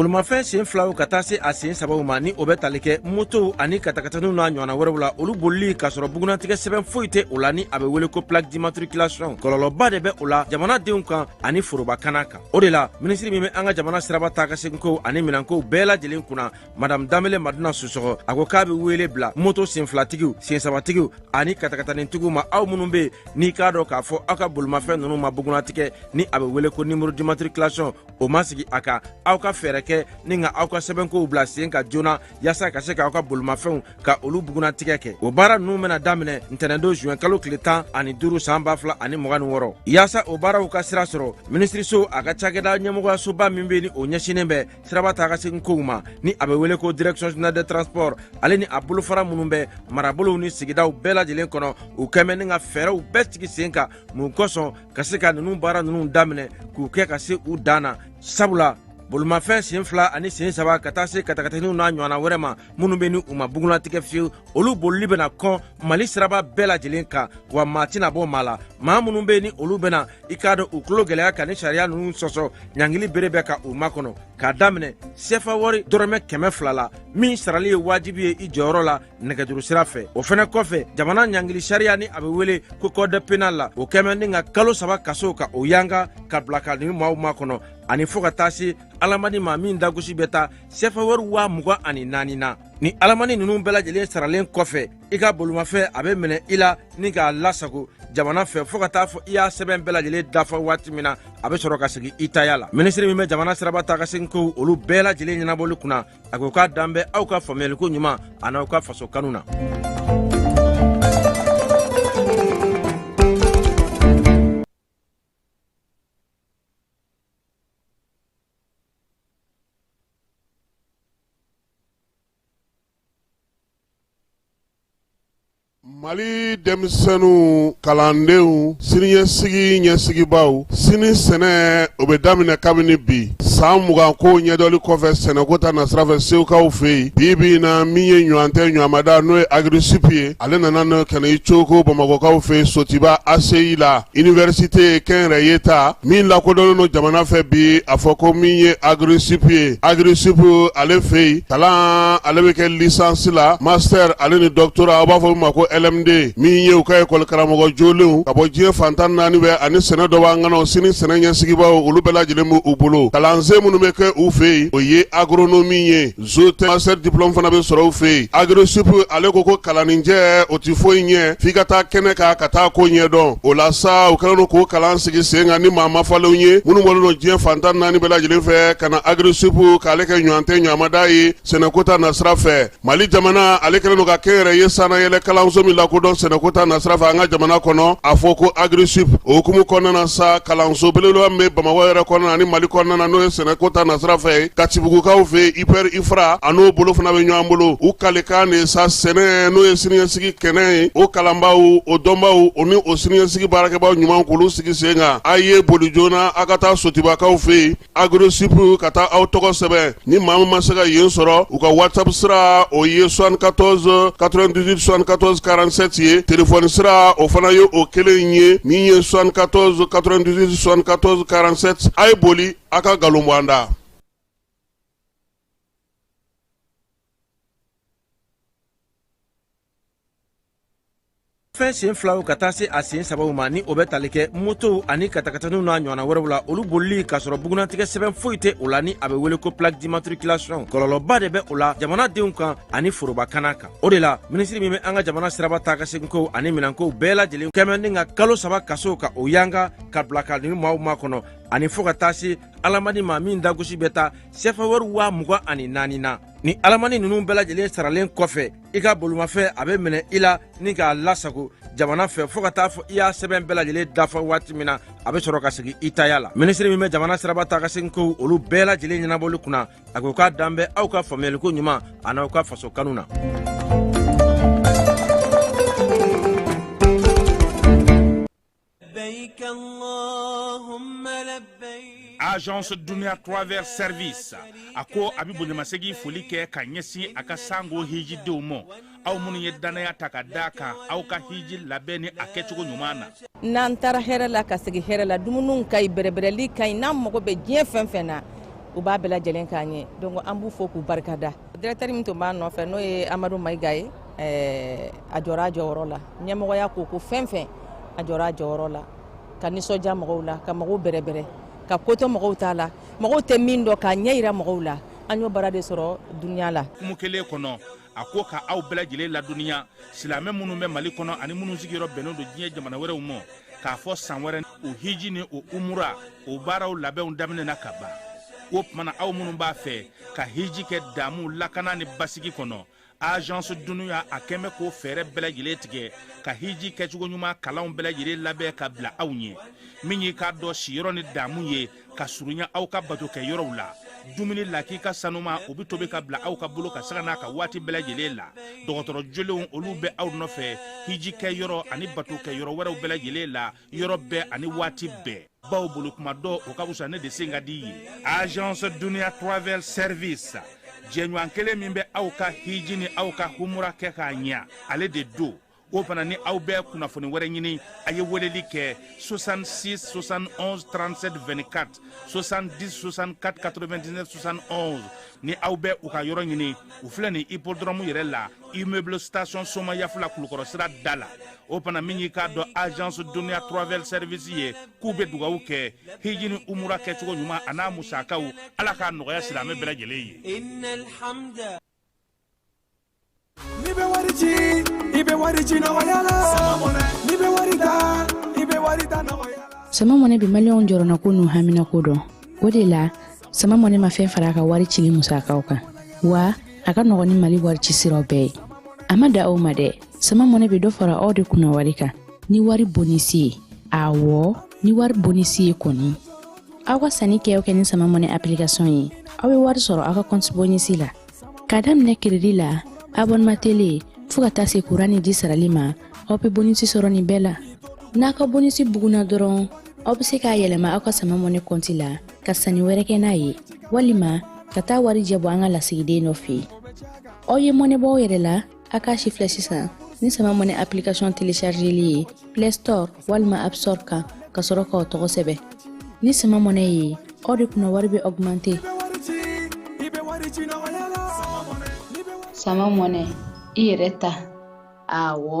bolimafɛn sen filaw ka taa se a sen sabaw ma ni o bɛ tali kɛ motow ani katakataniw n'a ɲɔgɔnna wɛrɛw la olu bolili k'a sɔrɔ bugunnatigɛ sɛbɛn foyi tɛ o la ni a bɛ wele ko plaque d'immatriculation kɔlɔlɔba de bɛ o la jamanadenw kan ani foroba kana kan o de la minisiri min bɛ an ka jamana siraba taa ka seginkow ani minɛnkow bɛɛ lajɛlen kunna madam danbele madina susɔgɔ a ko k'a be wele bila moto senfilatigiw sensabatigiw ani katakatanintigiw ma aw minnu be n'i k'a dɔn k'a fɔ aw ka bolimafɛn nunu ma bugunatigɛ ni a be wele ko numéro d'immatriculation o ma sigi a kan aw ka fɛɛrɛ kɛ ni ka aw ka sɛbɛnkow bila sen kan joona yaasa ka se k'aw ka bolimafɛnw ka olu bugunatigɛ kɛ o baara nunu bena daminɛ ntɛnɛndon zuwɛn kalo tile tan ani duru san ba fila ani mugan ni wɔɔrɔ yaasa o baaraw ka sira sɔrɔ minisiriso a ka cakɛda ɲɛmɔgɔyasoba min be ni o ɲɛsinnen bɛ siraba taa ka segin kow ma ni a bɛ wele ko direction générale des transports ale ni a bolofara minnu bɛ marabolow ni sigidaw bɛɛ lajɛlen kɔnɔ u kɛn bɛ ni ka fɛɛrɛw bɛɛ sigi sen kan mun kosɔn ka se ka ninnu baara ninnu daminɛ k'u kɛ ka se u dan na sabula bolimafɛn sen fila ani sen saba ka taa se katakataniw n'a ɲɔgɔnna wɛrɛ ma minnu bɛ ni u ma bugunatigɛ fiyewu olu bolili bɛna kɔn mali siraba bɛɛ lajɛlen kan wa maa tɛna bɔ maa la maa minnu bɛ ni olu bɛna i k'a dɔn u tulo gɛlɛya ka ni sariya ninnu sɔsɔ ɲangili bere bɛ ka u makɔnɔ k'a daminɛ sefa wari dɔrɔmɛ kɛmɛ fila la min sarali ye wajibi ye i jɔyɔrɔ la nɛgɛjuru sira fɛ o fɛnɛ kɔfɛ jamana ɲangili sariya ni a bɛ wele ko code pénal la o kɛn bɛ ni ka kalo saba kaso ka o yanga ka bila ka nin maaw makɔnɔ ani fɔɔ ka taa se alamani ma min dagosi bɛ taa sefa wari waa mugan ani naani na ni alamani ninnu bɛɛ lajɛlen saralen kɔfɛ i ka bolimafɛn a bɛ minɛ i la ni k'a lasago jamana fɛ fɔɔ ka taa fɔ i y'a sɛbɛn bɛɛ lajɛlen dafa waati min na a bɛ sɔrɔ ka segin i taya la minisiri min bɛ jamana siraba taa ka segin kow olu bɛɛ lajɛlen ɲɛnabɔli kunna a ko k'a dan bɛ aw ka faamuyaliko ɲuman an'aw ka faso kanu na mali denmisɛnninw kalandenw siniɲɛsigi ɲɛsigibaaw sini sɛnɛ o bɛ daminɛ kabini bi san mugan ko ɲɛdɔli kɔfɛ sɛnɛko ta nasira fɛ segukaw fɛ yen bi bi na min ye ɲɔgɔn tɛ ɲɔgɔnmada n'o ye agrisup ye ale nana n'o kɛnɛ i cogo bamakɔkaw fɛ sotuba ACI la Iniversite kɛnyɛrɛye ta min lakodɔnnen don jamana fɛ bi a fɔ ko min ye agrisup ye agrisup ale fɛ yen kalan ale bɛ kɛ licence la master ale ni doctorat a b'a fɔ ma ko LMD min ye u ka ekɔli karamɔgɔ jolenw ka bɔ diɲɛ fan tan naani bɛ ani sɛnɛ dɔnbaa ŋanaw sini sɛnɛ ɲɛsigibaaw olu bɛɛ lajɛlen b'u bolo kalansen minnu bɛ kɛ u fɛ yen o ye agronomie ye zootech master diplôme fana bɛ sɔrɔ u fɛ yen agrisup ale ko ko kalaninjɛ o tɛ foyi ɲɛ f'i ka taa kɛnɛ kan ka taa ko ɲɛdɔn o la sa u kɛlen don k'o kalan sigi sen kan ni maa mafalenw ye minnu bɔlen don diɲɛ fantan naani bɛɛ lajɛlen fɛ ka na agrisup k'ale kɛ ɲɔgɔn tɛ ɲamada ye sɛnɛko ta nasira fɛ mali jamana ale kɛlen don ka kɛnyɛrɛye sanayɛlɛ kalanso min lakodɔn sɛnɛko ta nasira fɛ an ka jamana kɔnɔ a fɔ ko agrisup o hukumu kɔnɔna na sa kalanso belebeleba min bɛ bamakɔ yɛrɛ kɔnɔna ni mali kɔnɔna na n'o sɛnɛko ta nasira fɛ katibugukaw fɛ ipr ifra a n'o bolo fana bɛ ɲɔgɔn bolo u kalikan de sa sɛnɛ n'o ye siniɲɛsigi kɛnɛ ye o kalanbaw o dɔnbaw o ni o siniɲɛsigi baarakɛbaw ɲuman k'olu sigi sen kan a ye boli joona a ka taa sotibakaw fɛ yen agrisup ka taa aw tɔgɔ sɛbɛn ni maa min ma se ka yen sɔrɔ u ka whatsapp sira o ye 74 98 74 47 ye telefɔni sira o fana ye o kelen ye min ye 74 98 74 47 a ye boli a ka nkalon bɔ an da fɛn sen filaw ka taa se a sen sabaw ma ni o bɛ tali kɛ motow ani katakataniw n'a ɲɔgɔnna wɛrɛw la olu bolili k'a sɔrɔ bugunnatigɛ sɛbɛn foyi tɛ o la ni a bɛ wele ko plaque d'immatriculation kɔlɔlɔba de bɛ o la jamanadenw kan ani foroba kana kan o de la minisiri min bɛ an ka jamana siraba taakaseginkow ani minɛnkow bɛɛ lajɛlen kɛmɛ ni ka kalo saba kaso ka o yanga ka bila ka nin maaw makɔnɔ ani fɔɔ ka taa se alamani ma min dagosi bɛ taa sɛfa wari waa mugan ani naani na ni alamani ninnu bɛɛ lajɛlen saralen kɔfɛ i ka bolomafɛn a bɛ minɛ i la ni k'a lasago jamana fɛ fɔɔ ka taa fɔ i y'a sɛbɛn bɛɛ lajɛlen dafa waati min na a bɛ sɔrɔ ka segin i taya la minisiri min bɛ jamana siraba taakaseginkow olu bɛɛ lajɛlen ɲɛnabɔli kunna a ko k'a dalen bɛ aw ka faamuyaliko ɲuman an'aw ka faso kanu na agence dunia travel service a ko a bɛ bonyamasegin foli kɛ ka ɲɛsin a ka sango hijidenw ma aw minnu ye dannaya ta ka da a kan aw ka hiji labɛn ni a kɛcogo ɲuman na n'an taara hɛrɛ la ka segin hɛrɛ la dumuniw ka ɲi bɛrɛbɛrɛli ka ɲi n'an mago bɛ diɲɛ fɛn fɛn na u b'a bɛɛ lajɛlen k'an ye donc an b'u fo k'u barika da directeur min tun b'a nɔfɛ n'o ye amadu mayiga ye eh, a jɔra a jɔyɔrɔ la ɲɛmɔgɔya ko ko fɛn fɛn a jɔra a jɔyɔrɔ la ka nisɔndiya mɔgɔw la ka mɔgɔw bɛrɛbɛrɛ ka kɔtɔ mɔgɔw ta la mɔgɔw tɛ min dɔn k'a ɲɛ yira mɔgɔw la an y'o baara de sɔrɔ duniya la hukumu kelen kɔnɔ a ko ka aw bɛɛ lajɛlen ladɔnniya silamɛ minnu bɛ mali kɔnɔ ani minnu sigiyɔrɔ bɛnnen don diɲɛ jamana wɛrɛw ma k'a fɔ san wɛrɛ o hiji ni o umura o baaraw labɛnw daminɛna ka ban o tuma na aw minnu b'a fɛ ka hiji kɛ damu lakana ni basigi kɔnɔ agence dunia a kɛn bɛ k'o fɛɛrɛ bɛɛ lajɛlen tigɛ ka hiji kɛcogo ɲuman kalanw bɛɛ lajɛlen labɛn ka bila aw ɲɛ min y'i k'a dɔn siyɔrɔ ni damu ye ka surunya aw ka bato kɛ yɔrɔw la dumuni lakika sanuman o be tobi ka bila aw ka bolo kan sanga n'a ka waati bɛɛ lajɛlen la dɔgɔtɔrɔ jolenw olu bɛ aw nɔfɛ hiji kɛ yɔrɔ ani bato kɛ yɔrɔ wɛrɛw bɛɛ lajɛlen la yɔrɔ bɛɛ ani waati bɛɛ bawo boli kuma dɔn o ka fisa ne de sen ka di ye agence dunia travel service jɛɲɔgɔn kelen min bɛ aw ka hiji ni aw ka humura kɛ k'a ɲɛ ale de don o fana ni aw bɛ kunnafoni wɛrɛ ɲini a ye weleli kɛ 66 71 37 24 70 64 99 71 ni aw bɛ u ka yɔrɔ ɲini u filɛ nin hippodrome yɛrɛ la immeuble station somayaf la kulukɔrɔ sira da la o fana min y'i k'a dɔn agence dunia travel service ye k'u bɛ dugawu kɛ hiji ni umura kɛcogo ɲuman a n'a musakaw ala k'a nɔgɔya silamɛ bɛɛ lajɛlen ye N'i bɛ wari ci i bɛ wari ci nɔgɔya la n'i bɛ wari ta i bɛ wari ta nɔgɔya la. sama mɔnɛ bi maliyɛnw jɔrɔnanko n'u haminanko dɔn o de la sama mɔnɛ ma fɛn fara a ka wari cili musakaw kan wa a ka nɔgɔn ni mali wari ci siraw bɛɛ ye a ma dan o ma dɛ sama mɔnɛ bɛ dɔ fara aw de kunna wari kan ni wari bonisi ye awɔ ni wari bonisi ye kɔni aw ka sanni kɛ o kɛ ni sama mɔnɛ application ye aw bɛ wari sɔrɔ aw ka kɔnti bonisi la ka daminɛ crédit la abonnement télé fo ka taa se kuran ni ji sarali ma aw be bonisi sɔrɔ nin bɛɛ la n'a ka bonisi buguna dɔrɔn aw be se k'a yɛlɛma aw ka sama mɔnɛ kɔnti la ka sanni wɛrɛ kɛ n'a ye walima ka taa warijɛ bɔ an ka lasigiden dɔ fɛ aw ye mɔnɛ bɔ aw yɛrɛ la a k'a sifilɛ sisan ni sama mɔnɛ application téléchargeli ye play store walima app store kan ka sɔrɔ k'aw tɔgɔ sɛbɛn ni sama mɔnɛ ye aw de kunna wari bɛ augmenter sama mɔnɛ i yɛrɛ ta awɔ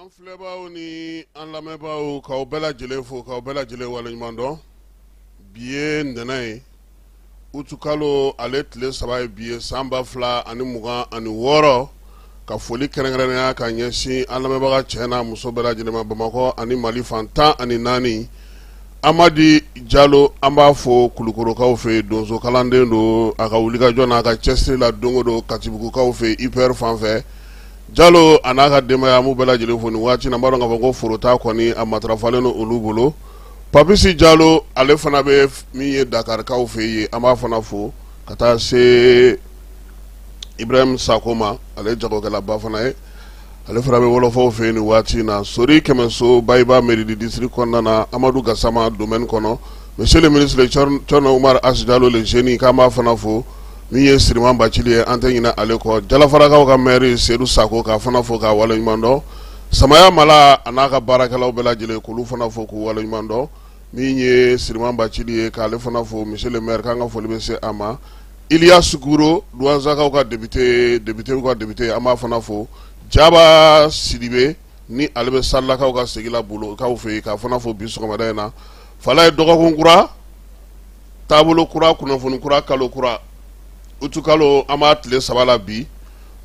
an filɛbaaw ni an lamɛnbaaw k'aw bɛɛ lajɛlen fo k'aw bɛɛ lajɛlen waleɲuman dɔn bi ye ntɛnɛn ye utikalo ale tile saba ye bi ye san ba fila ani mugan ani wɔɔrɔ ka foli kɛrɛnkɛrɛnnenya ka ɲɛsin an lamɛnbaga cɛ n'a muso bɛɛ lajɛlen ma bamakɔ ani mali fan tan ani naani Amadi jalo an b'a fo kulukɔrɔkaw fɛ donso kalanden don a ka wulikajɔ n'a ka cɛsiri la don o don katibugukaw fɛ ipr fan fɛ jalo a n'a ka denbaya bɛɛ lajɛlen fo nin waati na an b'a dɔn k'a fɔ ko foro ta kɔni a matarafalen don olu bolo papisi jalo ale fana bɛ min ye dakarikaw fɛ yen an b'a fana fo ka taa se ibrahim sakɔ ma ale jagokɛlaba fana ye ale fana bɛ wɔlɔfɔw fɛ yen nin waati in na sori kɛmɛso bayiba mairie du district kɔnɔna na amadu gasama domaine kɔnɔ monsieur le ministre cɛrno umaru hass jalo le génie k'an b'a fana fo min ye siriman bacili ye an tɛ ɲinɛ ale kɔ jalafarakaw ka maire seyidu sakɔ k'a fana fo k'a waleɲumandɔn samaya mala a n'a ka baarakɛlaw bɛɛ lajɛlen k'olu fana fo k'u waleɲumandɔn min ye Siriman Bacili ye k'ale fana fo monsieur le maire k'an ka foli bɛ se a ma Iliyasi Guro Duwansakaw ka député député ka député an b'a fana fo Jaba Sidibe ni ale bɛ Salakaw ka sigi la Bolokaw fɛ yen k'a fana fo bi sɔgɔmada in na Falaye dɔgɔkun kura taabolo kura kunnafoni kura kalo kura utu kalo an b'a tile saba la bi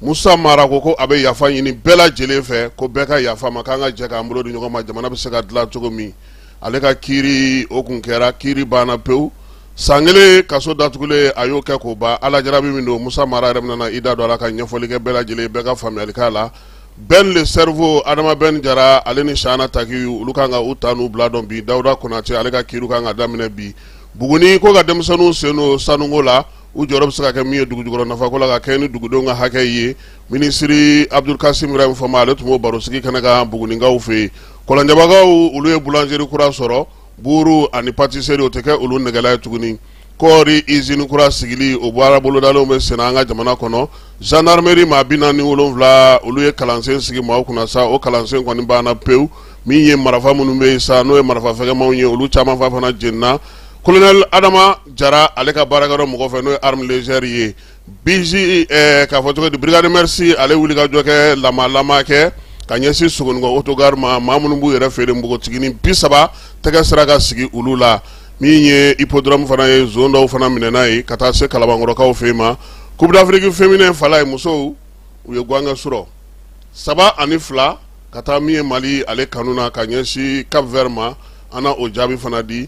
Musa Mara ko ko a bɛ yafa ɲini bɛɛ lajɛlen fɛ ko bɛɛ ka yafa ma k'an ka jɛ k'an bolo di ɲɔgɔn ma jamana bɛ se ka dilan cogo min ale ka kiiri o kun kɛra kiiri banna pewu san kelen kaso datugulen a y'o kɛ k'o ban ala jarabi min don musa mara yɛrɛ bɛna na i da don a la ka ɲɛfɔli kɛ bɛɛ lajɛlen bɛɛ ka faamuyali la ben le cerveau adama ben jara ale ni shana taki olu kan ka u ta n'u bila dɔn bi dawuda konate ale ka kiiri kan ka daminɛ bi buguni ko ka denmisɛnninw sen don sanuko la u jɔyɔrɔ bɛ se ka kɛ min ye dugujukɔrɔ nafako la ka kɛɲɛ ni dugudenw ka hakɛ ye minisiri abdul kasim ibrahim fɔnba ale tun b'o barosigi kɛnɛ kan bugunikaw fɛ yen kɔlɔnjɛbakaw olu ye boulangerie kura sɔrɔ buuru ani pâtisserie o tɛ kɛ olu nɛgɛla ye tuguni kɔɔri izini kura sigili o baara bolodalenw bɛ senna an ka jamana kɔnɔ gendarmerie maa bi naani wolonwula olu ye kalansen sigi maaw kunna sa o kalansen kɔni banna pewu min ye marafa minnu bɛ yen sa n'o ye marafa fɛgɛmanw ye olu caman fa fana jenina colonel adama jara ale ka baarakɛyɔrɔ mɔgɔ fɛ n'o ye arme légère ye BIJ k'a fɔ cogo di brigade mœurs ale wuli ka jɔ kɛ lamaalama kɛ ka ɲɛsin Sogoninkɔ autogare ma maa minnu b'u yɛrɛ feere npogotiginin bi saba tɛgɛ sera ka sigi olu la min ye hippodrome fana ye zone dɔw fana minɛna yen ka taa se Kalabankɔrɔkaw fɛ yen ma coupe d'Afrique féminin Falaye musow u ye gaɲɛ sɔrɔ saba ani fila ka taa min ye mali ale kanu na ka ɲɛsin Cap Vert ma an na o jaabi fana di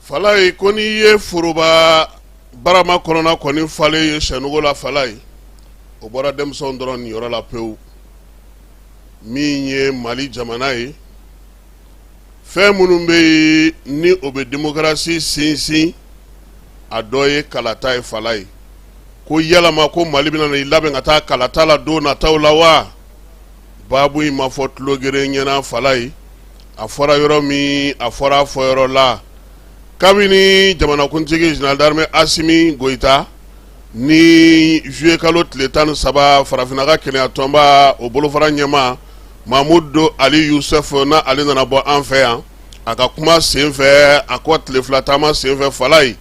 falaye ko n'i ye foroba barama kɔnɔna kɔni falen ye sɛnugu la falaye o bɔra denmisɛnw dɔrɔn niyɔrɔ la pewu min ye mali jamana ye fɛn minnu bɛ yen ni o bɛ demokarasi sinsin a dɔ ye kalata ye falaye ko yalama ko mali bɛna na i labɛn ka taa kalata la don nataw la wa baabu in ma fɔ tulo geren ɲɛna falaye a fɔra yɔrɔ min a fɔra a fɔ yɔrɔ la kabini jamanakuntigi général d'armée asimi goyita ni zuye kalo tile tan ni saba farafinna ka kelenyatɔnba o bolofara ɲɛmaa mamudu ali yusuf na ale nana bɔ an fɛ yan a ka kuma senfɛ a ko tile fila taama senfɛ falaye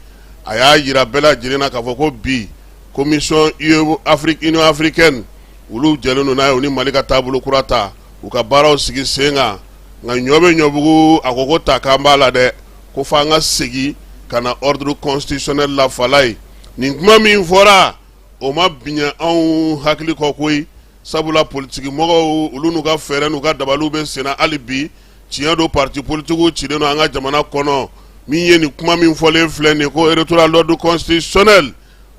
a y'a yira bɛɛ lajɛlen na k'a fɔ ko bi commission union africaine olu jɛlen don n'a ye u ni mali ka taabolo kura ta u ka baaraw sigi sen kan nka ɲɔ bɛ ɲɔbugu a ko ko ta k'an b'a la dɛ ko fɔ an ka segin ka na ordre constitutionnel la Falaye nin kuma min fɔra o ma biɲɛ anw hakili kɔ koyi sabula politigi mɔgɔw olu n'u ka fɛɛrɛ n'u ka dabaliw bɛ senna hali bi tiɲɛ don parti politigiw cilen don an ka jamana kɔnɔ min ye nin kuma min fɔlen filɛ nin ye ko retour à l'ordre constitutionnel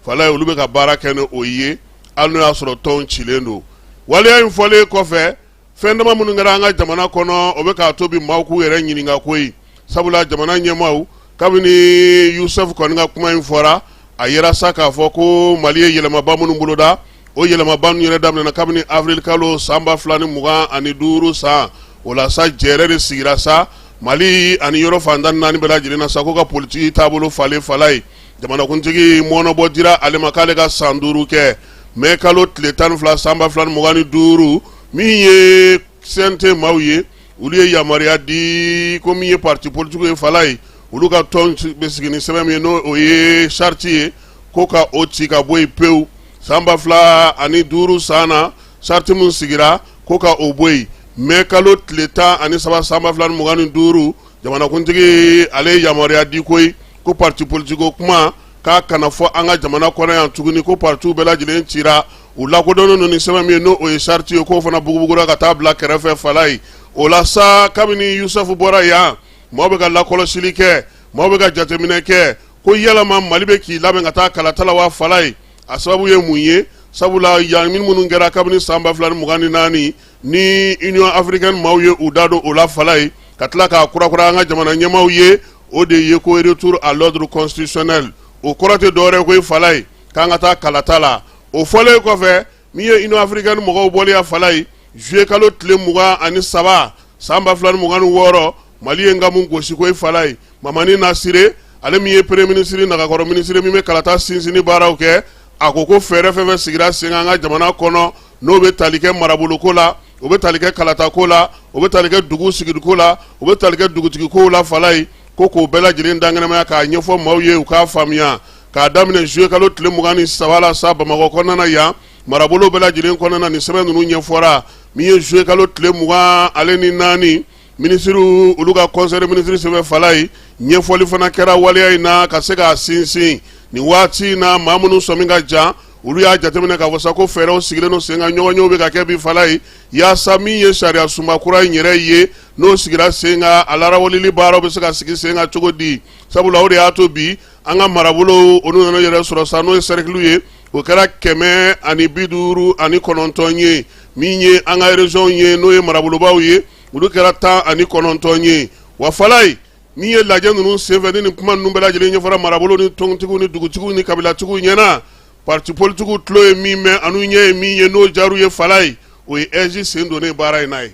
Falaye olu bɛ ka baara kɛ ni o ye hali n'o y'a sɔrɔ tɔnw cilen don waleya in fɔlen kɔfɛ fɛn dama minnu kɛra an ka jamana kɔnɔ o bɛ k'a to bi maaw k'u yɛrɛ ɲininka koyi sabula jamana ɲɛmaaw kabini yusufu kɔni ka kuma in fɔra a yira sa k'a fɔ ko mali ye yɛlɛmaba minnu boloda o yɛlɛmaba ninnu yɛrɛ daminɛna kabini avril kalo san ba fila ni mugan ani duuru san o la sa jɛɛrɛ de sigira sa mali ani yɔrɔ fan tan ni naani bɛɛ lajɛlen na sa ko ka politiki taabolo falen Falaye jamanakuntigi mɔɔnɔbɔ dira ale ma k'ale ka san duuru kɛ mɛ kalo tile tan ni fila sanba fila ni mugan ni duuru min ye CNT maaw ye olu ye yamaruya di ko min ye pati politigiw ye Falaye olu ka tɔn bɛ sigi ni sɛbɛn min ye n'o o ye charte ye ko ka o ci ka bɔ yen pewu sanba fila ani duuru san na charte min sigira ko ka o bɔ yen mɛ kalo tile tan ani saba sanba fila ni mugan ni duuru jamanakuntigi ale ye yamaruya di koyi ko pati politigiko kuma k'a kana fɔ an ka jamana kɔnɔ yan tuguni ko patiw bɛɛ lajɛlen cira u lakodɔnnen don ni sɛbɛn min ye n'o o ye charte ye k'o fana bugubugura ka taa bila kɛrɛfɛ Falaye o la sa kabini yusufu bɔra yan maaw bɛ ka lakɔlɔsili kɛ maaw bɛ ka jateminɛ kɛ ko yalama mali bɛ k'i labɛn ka taa kalata la wa Falaye a sababu ye mun ye sabula yan min minnu kɛra kabini san ba fila ni mugan ni naani ni union africaine maaw ye u da don o la Falaye ka tila k'a kurakura an ka jamana ɲɛmaaw ye o de ye ko retour à l'ordre constitutionnel o kɔrɔ tɛ dɔwɛrɛ ye koyi Falaye k'an ka taa kalata la o fɔlen kɔfɛ min ye Union africaine mɔgɔw bɔlen yan Falaye juillet kalo tile mugan ani saba san ba fila ni mugan ni wɔɔrɔ Mali ye nkamu gosi koyi Falaye Mamani Nasire ale min ye premier ministre nagakɔrɔ ministre min bɛ kalata sinsinni baaraw kɛ a ko ko fɛɛrɛ fɛn fɛn sigira sen kan an ka jamana kɔnɔ n'o bɛ tali kɛ maraboloko la o bɛ tali kɛ kalatako la o bɛ tali kɛ dugu sigiliko la o bɛ tali kɛ dugutigiko la Falaye ko k'o bɛɛ lajɛlen dankɛnɛmaya k'a ɲɛfɔ maaw ye u k'a faamuya k'a daminɛ juillet kalo tile mugan ni saba la sa bamakɔ kɔnɔna yan marabolo bɛɛ lajɛlen kɔnɔna ni sɛbɛn ninnu ɲɛfɔra min ye juillet kalo tile mugan ale ni naani minisiriw olu ka conseil de ministre sɛbɛn Falaye ɲɛfɔli fana kɛra waleya in na ka se k'a sinsin nin waati in na maa minnu sɔmi ka jan olu y'a jateminɛ k'a fɔ sa ko fɛɛrɛw sigilen don sen kan ɲɔgɔnyew bɛ ka kɛ bi Falayi yaasa min ye sariya sunba kura in yɛrɛ ye n'o sigira sen kan a larawaleli baaraw bɛ se ka sigi sen kan cogo di sabula o de y'a to bi an ka marabolow olu nana yɛrɛ sɔrɔ sa n'o ye sɛrikiliw ye o kɛra kɛmɛ ani bi duuru ani kɔnɔntɔn ye min ye an ka erezɔnw ye n'o ye marabolobaw ye olu kɛra tan ani kɔnɔntɔn ye wa Falayi N'i ye lajɛ ninnu senfɛ ni ni kuma ninnu bɛɛ lajɛlen ɲɛfɔra marabolo ni tɔntigiw ni dugutigiw ni kabilatigiw ɲɛna parti politikiw tulo ye min mɛn ani u ɲɛ ye min ye n'o diyar'u ye Falayi o ye AIGE sen donnen baara in na ye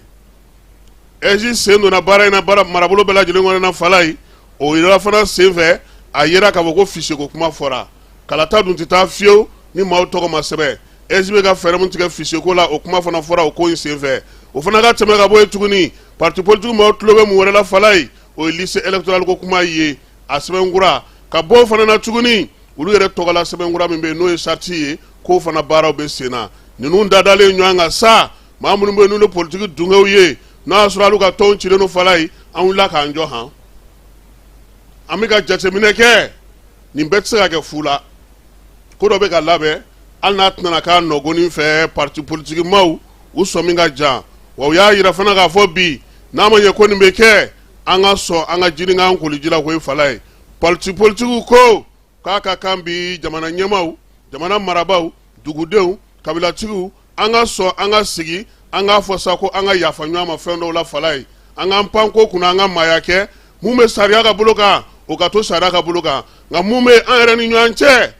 AIGE sen donna baara in na marabolo bɛɛ lajɛlen kɔnɔna na Falayi o yɔrɔ fana senfɛ a jira k'a fɔ ko fichier ko kuma fɔra kalata dun tɛ taa fiyewu ni maaw tɔgɔ ma sɛbɛn AIGE bɛ ka fɛɛrɛ mun tigɛ fichier ko la o kuma fana fɔra o ko in senfɛ o fana ka tɛmɛ ka bɔ yen tuguni parti politique maaw tulo bɛ mun wɛrɛ la Falayi o ye liste électorale ko kuma ye a sɛbɛnkura ka bɔ o fana na tuguni olu yɛrɛ tɔgɔla sɛbɛnkura min bɛ yen n'o ye sariti ye k'o fana baaraw bɛ sen na ninnu dadalen ɲɔgɔn kan sa maa minnu bɛ yen n'olu ye politiki dungew ye n'a y'a sɔrɔ olu ka tɔnw cilen don Falayi an wulila k'an jɔ han an bɛ ka jateminɛ kɛ nin bɛɛ tɛ se ka kɛ fu la ko dɔ bɛ ka labɛn hali n'a tɛna k'a nɔgonin fɛ parti politiki maaw u sɔmi ka jan wa u y'a jira fana k'a fɔ bi n'a ma ɲɛ ko nin bɛ kɛ an ka sɔn an ka jinin k'an koliji la koyi Falayi politi politigiw ko k'a ka kan bi jamana ɲɛmaaw jamana marabaaw dugudenw kabilatigiw an ka sɔn an ka sigi an k'a fɔ sa ko an ka yafa ɲɔgɔn ma fɛn dɔw la Falayi an k'an pan ko kunna an ka maaya kɛ mun bɛ sariya ka bolo kan o ka to sariya ka bolo kan nka mun bɛ an yɛrɛ ni ɲɔgɔn cɛ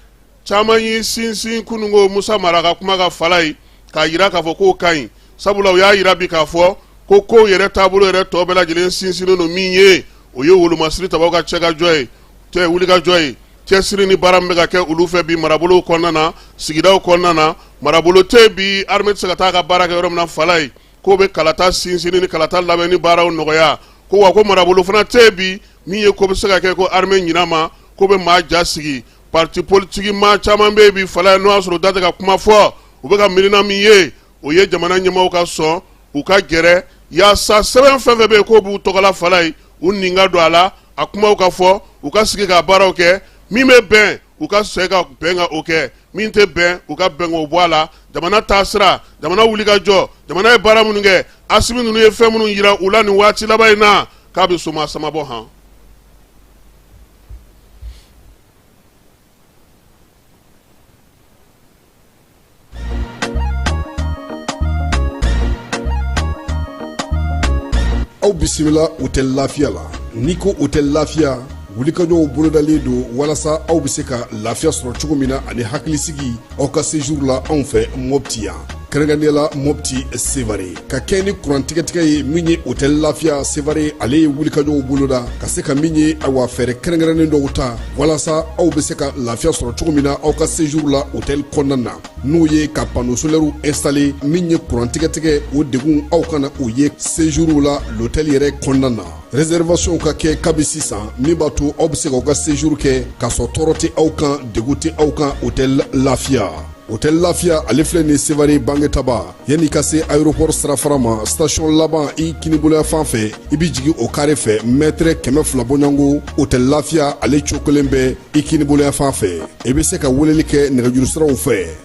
caman y'i sinsin kununko musa mara ka kuma kan Falayi k'a jira k'a fɔ k'o ka ɲi sabula u y'a jira bi k'a fɔ ko kow yɛrɛ taabolo yɛrɛ tɔ bɛɛ lajɛlen sinsinnen don min ye o ye wolomasiri tabaw ka cɛkajɔ ye tɛ wulikajɔ ye cɛsiri ni baara min bɛ ka kɛ olu fɛ bi marabolow kɔnɔna na sigidaw kɔnɔna na marabolo tɛ bi armée tɛ se ka taa ka baara kɛ yɔrɔ min na Falayi k'o bɛ kalata sinsinni ni kalata labɛnni baaraw nɔgɔya ko wa ko marabolo fana tɛ bi min ye ko bɛ se ka kɛ ko armée ɲina ma k'o bɛ maa ja sigi Pati politigi maa caman bɛ yen bi Falayi n'o y'a sɔrɔ u da tɛ ka kuma fɔ u bɛɛ ka miirina min ye o ye jamana ɲɛmaaw ka sɔn u ka gɛrɛ yaasa sɛbɛn fɛn fɛn bɛ yen k'o b'u tɔgɔla Falayi u nin ka don a la a kumaw ka fɔ u ka sigi ka baaraw kɛ min bɛ bɛn u ka sɛ ka bɛn k'o kɛ min tɛ bɛn u ka bɛn k'o bɔ a la jamana taasira jamana wulikajɔ jamana ye baara minnu kɛ Asimi ninnu ye fɛn minnu jira u la nin waati laban in na k'a bɛ soma samabɔ han aw bisimila hôtel Lafiya la n'i ko hôtel Lafiya wulikajɔw bolodalen don walasa aw bɛ se ka lafiya sɔrɔ cogo min na ani hakilisigi aw ka séjour la anw fɛ mɔpti yan kɛrɛnkɛrɛnnenya la mɔpti sevare ka kɛɲɛ ni kurantigɛtigɛ ye min ye hôtel lafiya sevare ale ye wulikajɔw boloda ka se ka min ye awa fɛɛrɛ kɛrɛnkɛrɛnnen dɔw ta walasa aw be se ka lafiya sɔrɔ cogo min na aw ka séjour la hôtel kɔnɔna na n'o ye ka panneau solɛriw installé min ye kurantigɛtigɛ o degun aw kana o ye séjour la l'hôtel yɛrɛ kɔnɔna na Réservation ka kɛ kabi sisan min b'a to aw bɛ se ka aw ka séjour kɛ k'a sɔrɔ tɔɔrɔ tɛ aw kan degun tɛ aw kan hôtel Lafia hôtel Lafia ale filɛ nin Sevare Bangetaba yanni i ka se aéroport sirafara ma station laban i kiniboloya fan fɛ i bɛ jigin o kare fɛ mètre kɛmɛ fila bɔɲɔngo hôtel Lafia ale cokolen bɛ i kiniboloya fan fɛ i bɛ se ka weleli kɛ nɛgɛjuru siraw fɛ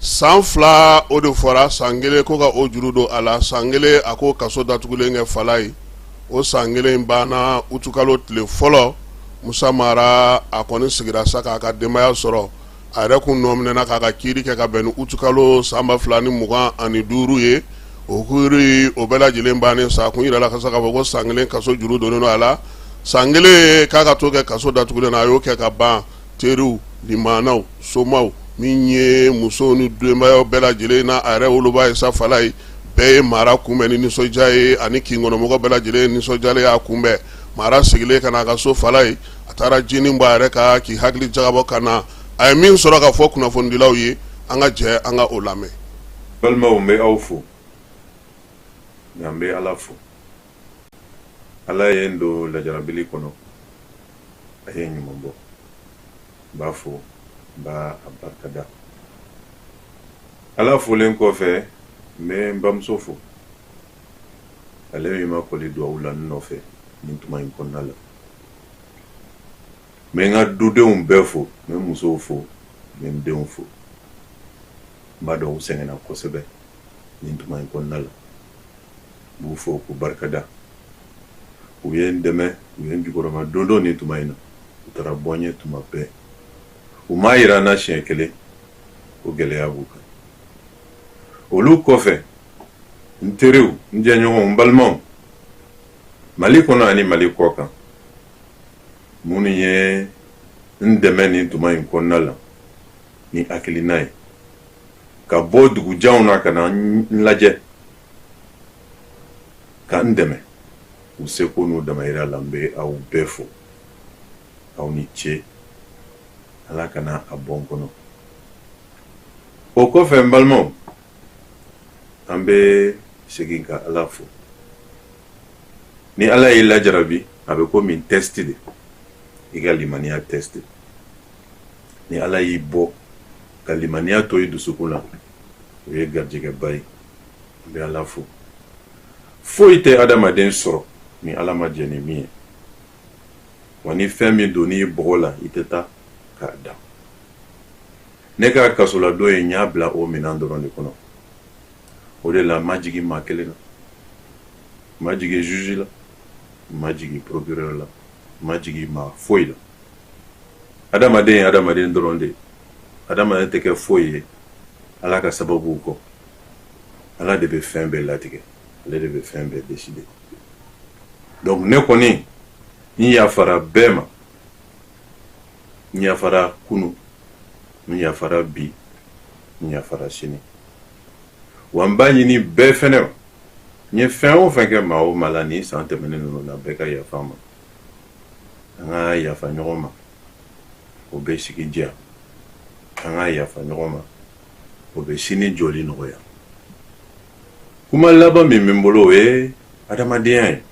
san fila o de fɔra san kelen ko ka o juru don a la san kelen a ko kaso datugulen kɛ falajɛ o san kelen banna utukalo tile fɔlɔ musa mara a kɔni sigira sa k'a ka denbaya sɔrɔ a yɛrɛ kun nɔminɛna k'a ka kiiri kɛ ka bɛn ni utukalo san ba fila ni mugan ani duuru ye o kuuru o bɛɛ lajɛlen bannen sa kun yirala ka se k'a fɔ ko san kelen kaso juru donnen a la san kelen k'a ka to kɛ kaso datugulen na a y'o kɛ ka ban teriw limaanaw somaw min ye musow ni denbayaw bɛɛ lajɛlen na a yɛrɛ woloba ye sa falajɛ bɛɛ ye mara kunbɛn ni nisɔndiya ye ani kin kɔnɔmɔgɔ bɛɛ lajɛlen nisɔndiyalen y'a kunbɛn mara seginnen ka na a ka so falajɛ a taara jinin bɔ a yɛrɛ ka k'i hakili jagabɔ ka na a ye min sɔrɔ ka fɔ kunnafonidilaw ye an ka jɛ an ka o lamɛn balimaw n bɛ aw fo nka n bɛ ala fo ala ye n don lajarabili kɔnɔ a ye ɲuman bɔ n b'a fo n b'a barika da ala folen kɔfɛ n bɛ n bamuso fo ale min ma kɔli duwawu la n nɔfɛ nin tuma in kɔnɔna la n bɛ n ka dudenw bɛɛ fo n bɛ musow fo n bɛ n denw fo n b'a dɔn u sɛgɛnna kosɛbɛ nin tuma in kɔnɔna la n b'u fo k'u barika da u ye n dɛmɛ u ye n jukɔrɔmadondon nin tuma in na u taara bɔ n ye tuma bɛɛ u m'a yira n na siɲɛ kelen ko gɛlɛya b'u kan olu kɔfɛ n teriw n jɛɲɔgɔnw n balimaw mali kɔnɔ ani mali kɔ kan minnu ye n dɛmɛ nin tuma in kɔnɔna la ni hakilina ye ka bɔ dugujanw na ka na n lajɛ ka n dɛmɛ u seko n'u damayira la n bɛ aw bɛɛ fo aw ni ce ala kana a bɔ n kɔnɔ o kɔfɛ n balimaw an bɛ segin ka ala fo ni ala y'i lajarabi a bɛ komi tɛsti de i ka limaniya tɛsti ni ala y'i bɔ ka limaniya to i dusukun na o ye garijɛgɛba ye n bɛ ala fo foyi tɛ adamaden sɔrɔ ni ala ma jɛn ni min ye wa ni fɛn min donn'i bɔgɔ la i tɛ taa k'a dan ne ka kasoladon ye n y'a bila o minɛn dɔrɔn de kɔnɔ o de la n ma jigin maa kelen na n ma jigin juge la n ma jigin procureur la n ma jigin maa foyi la adamaden ye adamaden dɔrɔn de ye adamaden tɛ kɛ foyi ye ala ka sababuw kɔ ala de bɛ fɛn bɛɛ latigɛ ale de bɛ fɛn bɛɛ décider donc ne kɔni n yafara bɛɛ ma n yafara kunu n yafara bi n yafara sini wa n b'a ɲini bɛɛ fɛnɛ n ye fɛn o fɛn kɛ maa o maa la nin san tɛmɛnen ninnu na bɛɛ ka yafa n ma an ka yafa ɲɔgɔn ma o bɛ sigi diya an ka yafa ɲɔgɔn ma o bɛ sini jɔli nɔgɔya kuma laban min bɛ n bolo o ye adamadenya ye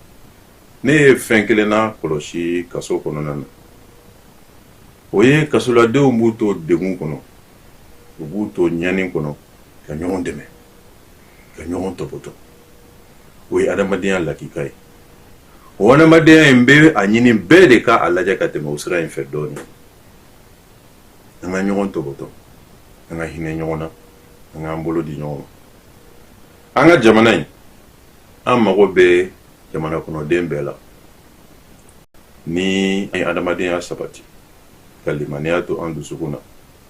ne ye fɛn kelen lakɔlɔsi kaso kɔnɔna na o ye kasoladenw b'u to degun kɔnɔ u b'u to ɲani kɔnɔ ka ɲɔgɔn dɛmɛ ka ɲɔgɔn tɔpɔtɔ o ye adamadenya lakika ye o hadamadenya in n bɛ a ɲini bɛɛ de ka a lajɛ ka tɛmɛ o sira in fɛ dɔɔnin an ka ɲɔgɔn tɔbɔtɔ an ka hinɛ ɲɔgɔn na an k'an bolo di ɲɔgɔn ma an ka jamana in an mago bɛ jamana kɔnɔden bɛɛ la ni an ye hadamadenya sabati ka limaniya to an dusukun na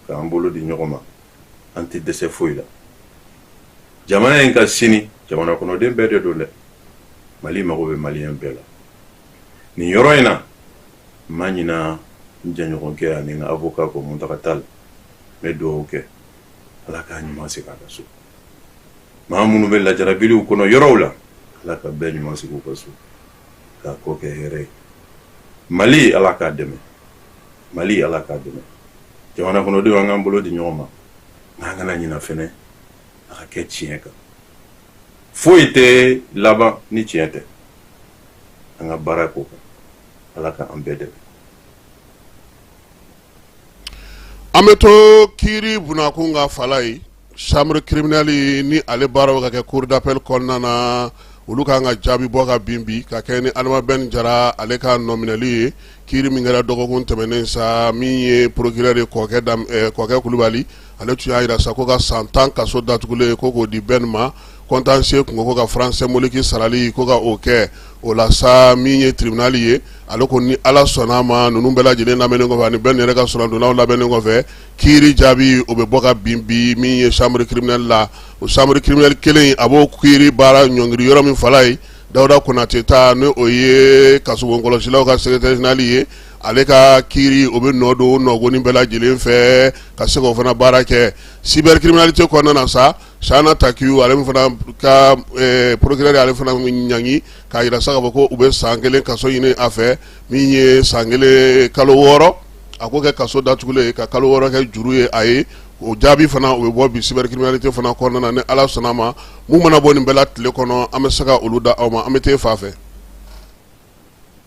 k'an bolo di ɲɔgɔn ma an tɛ dɛsɛ foyi la jamana in ka sini jamana kɔnɔden bɛɛ de don dɛ mali mago bɛ maliyɛn bɛɛ la nin yɔrɔ in na n ma ɲina n jɛɲɔgɔnkɛ ani n ka avocat ko Muntaka Tall n bɛ dugawu kɛ ala k'a ɲuman segin a ka so maa minnu bɛ lajarabiliw kɔnɔ yɔrɔw la ala ka bɛɛ ɲuman segin u ka so k'a kɔ kɛ hɛrɛ ye mali ala k'a dɛmɛ mali ala k'a dɛmɛ jamana kɔnɔdenw an k'an bolo di ɲɔgɔn ma nka an kana ɲina fɛnɛ a ka kɛ tiɲɛ kan foyi tɛ laban ni tiɲɛ tɛ an ka baara k'o kan ala k'an bɛɛ dɛmɛ An bɛ to kiri bunda kun kan fala ye chambre criminelle ni ale baaraw ka kɛ cour d'appel kɔnɔna na olu ka kan ka jaabi bɔ ka bin bi ka kɛɲɛ ni Adama Ben Jara ale ka nɔminɛli ye kiri min kɛra dɔgɔkun tɛmɛnen sa min ye procureur ye Kɔkɛ Kulubali ale tun y'a jira sa ko ka san tan kaso datugulen ye ko k'o di bɛn ma contentieux tun ko ka franc symbolique sarali ko ka o kɛ o la sa min ye tribunal ye ale ko ni ala sɔnna a ma ninnu bɛɛ lajɛlen lamɛnnen kɔfɛ ani bɛn yɛrɛ ka soronadonnaw lamɛnnen kɔfɛ kiiri jaabi o bɛ bɔ ka bin bi min ye chambre criminelle la o chambre criminelle kelen a b'o kiiri baara ɲɔngiri yɔrɔ min fala ye dawuda konate ta n' o ye kasobon kɔlɔsilaw ka secrétaire général ye ale ka kiiri o bɛ nɔ don nɔgɔnni bɛɛ lajɛlen fɛ ka se k'o fana baara kɛ cybercriminalité kɔnɔna na sa chahana takiou ale fana ka procureur ale fana ɲangi k'a jira sa k'a fɔ ko u bɛ san kelen kaso ɲini a fɛ min ye san kelen kalo wɔɔrɔ a k'o kɛ kaso datugulen ye ka kalo wɔɔrɔ kɛ juru ye a ye o jaabi fana o bɛ bɔ bi cybercriminalité fana kɔnɔna na ni ala sɔnna a ma mun mana bɔ nin bɛɛ la tile kɔnɔ an bɛ se ka olu da aw ma an bɛ taa fa fɛ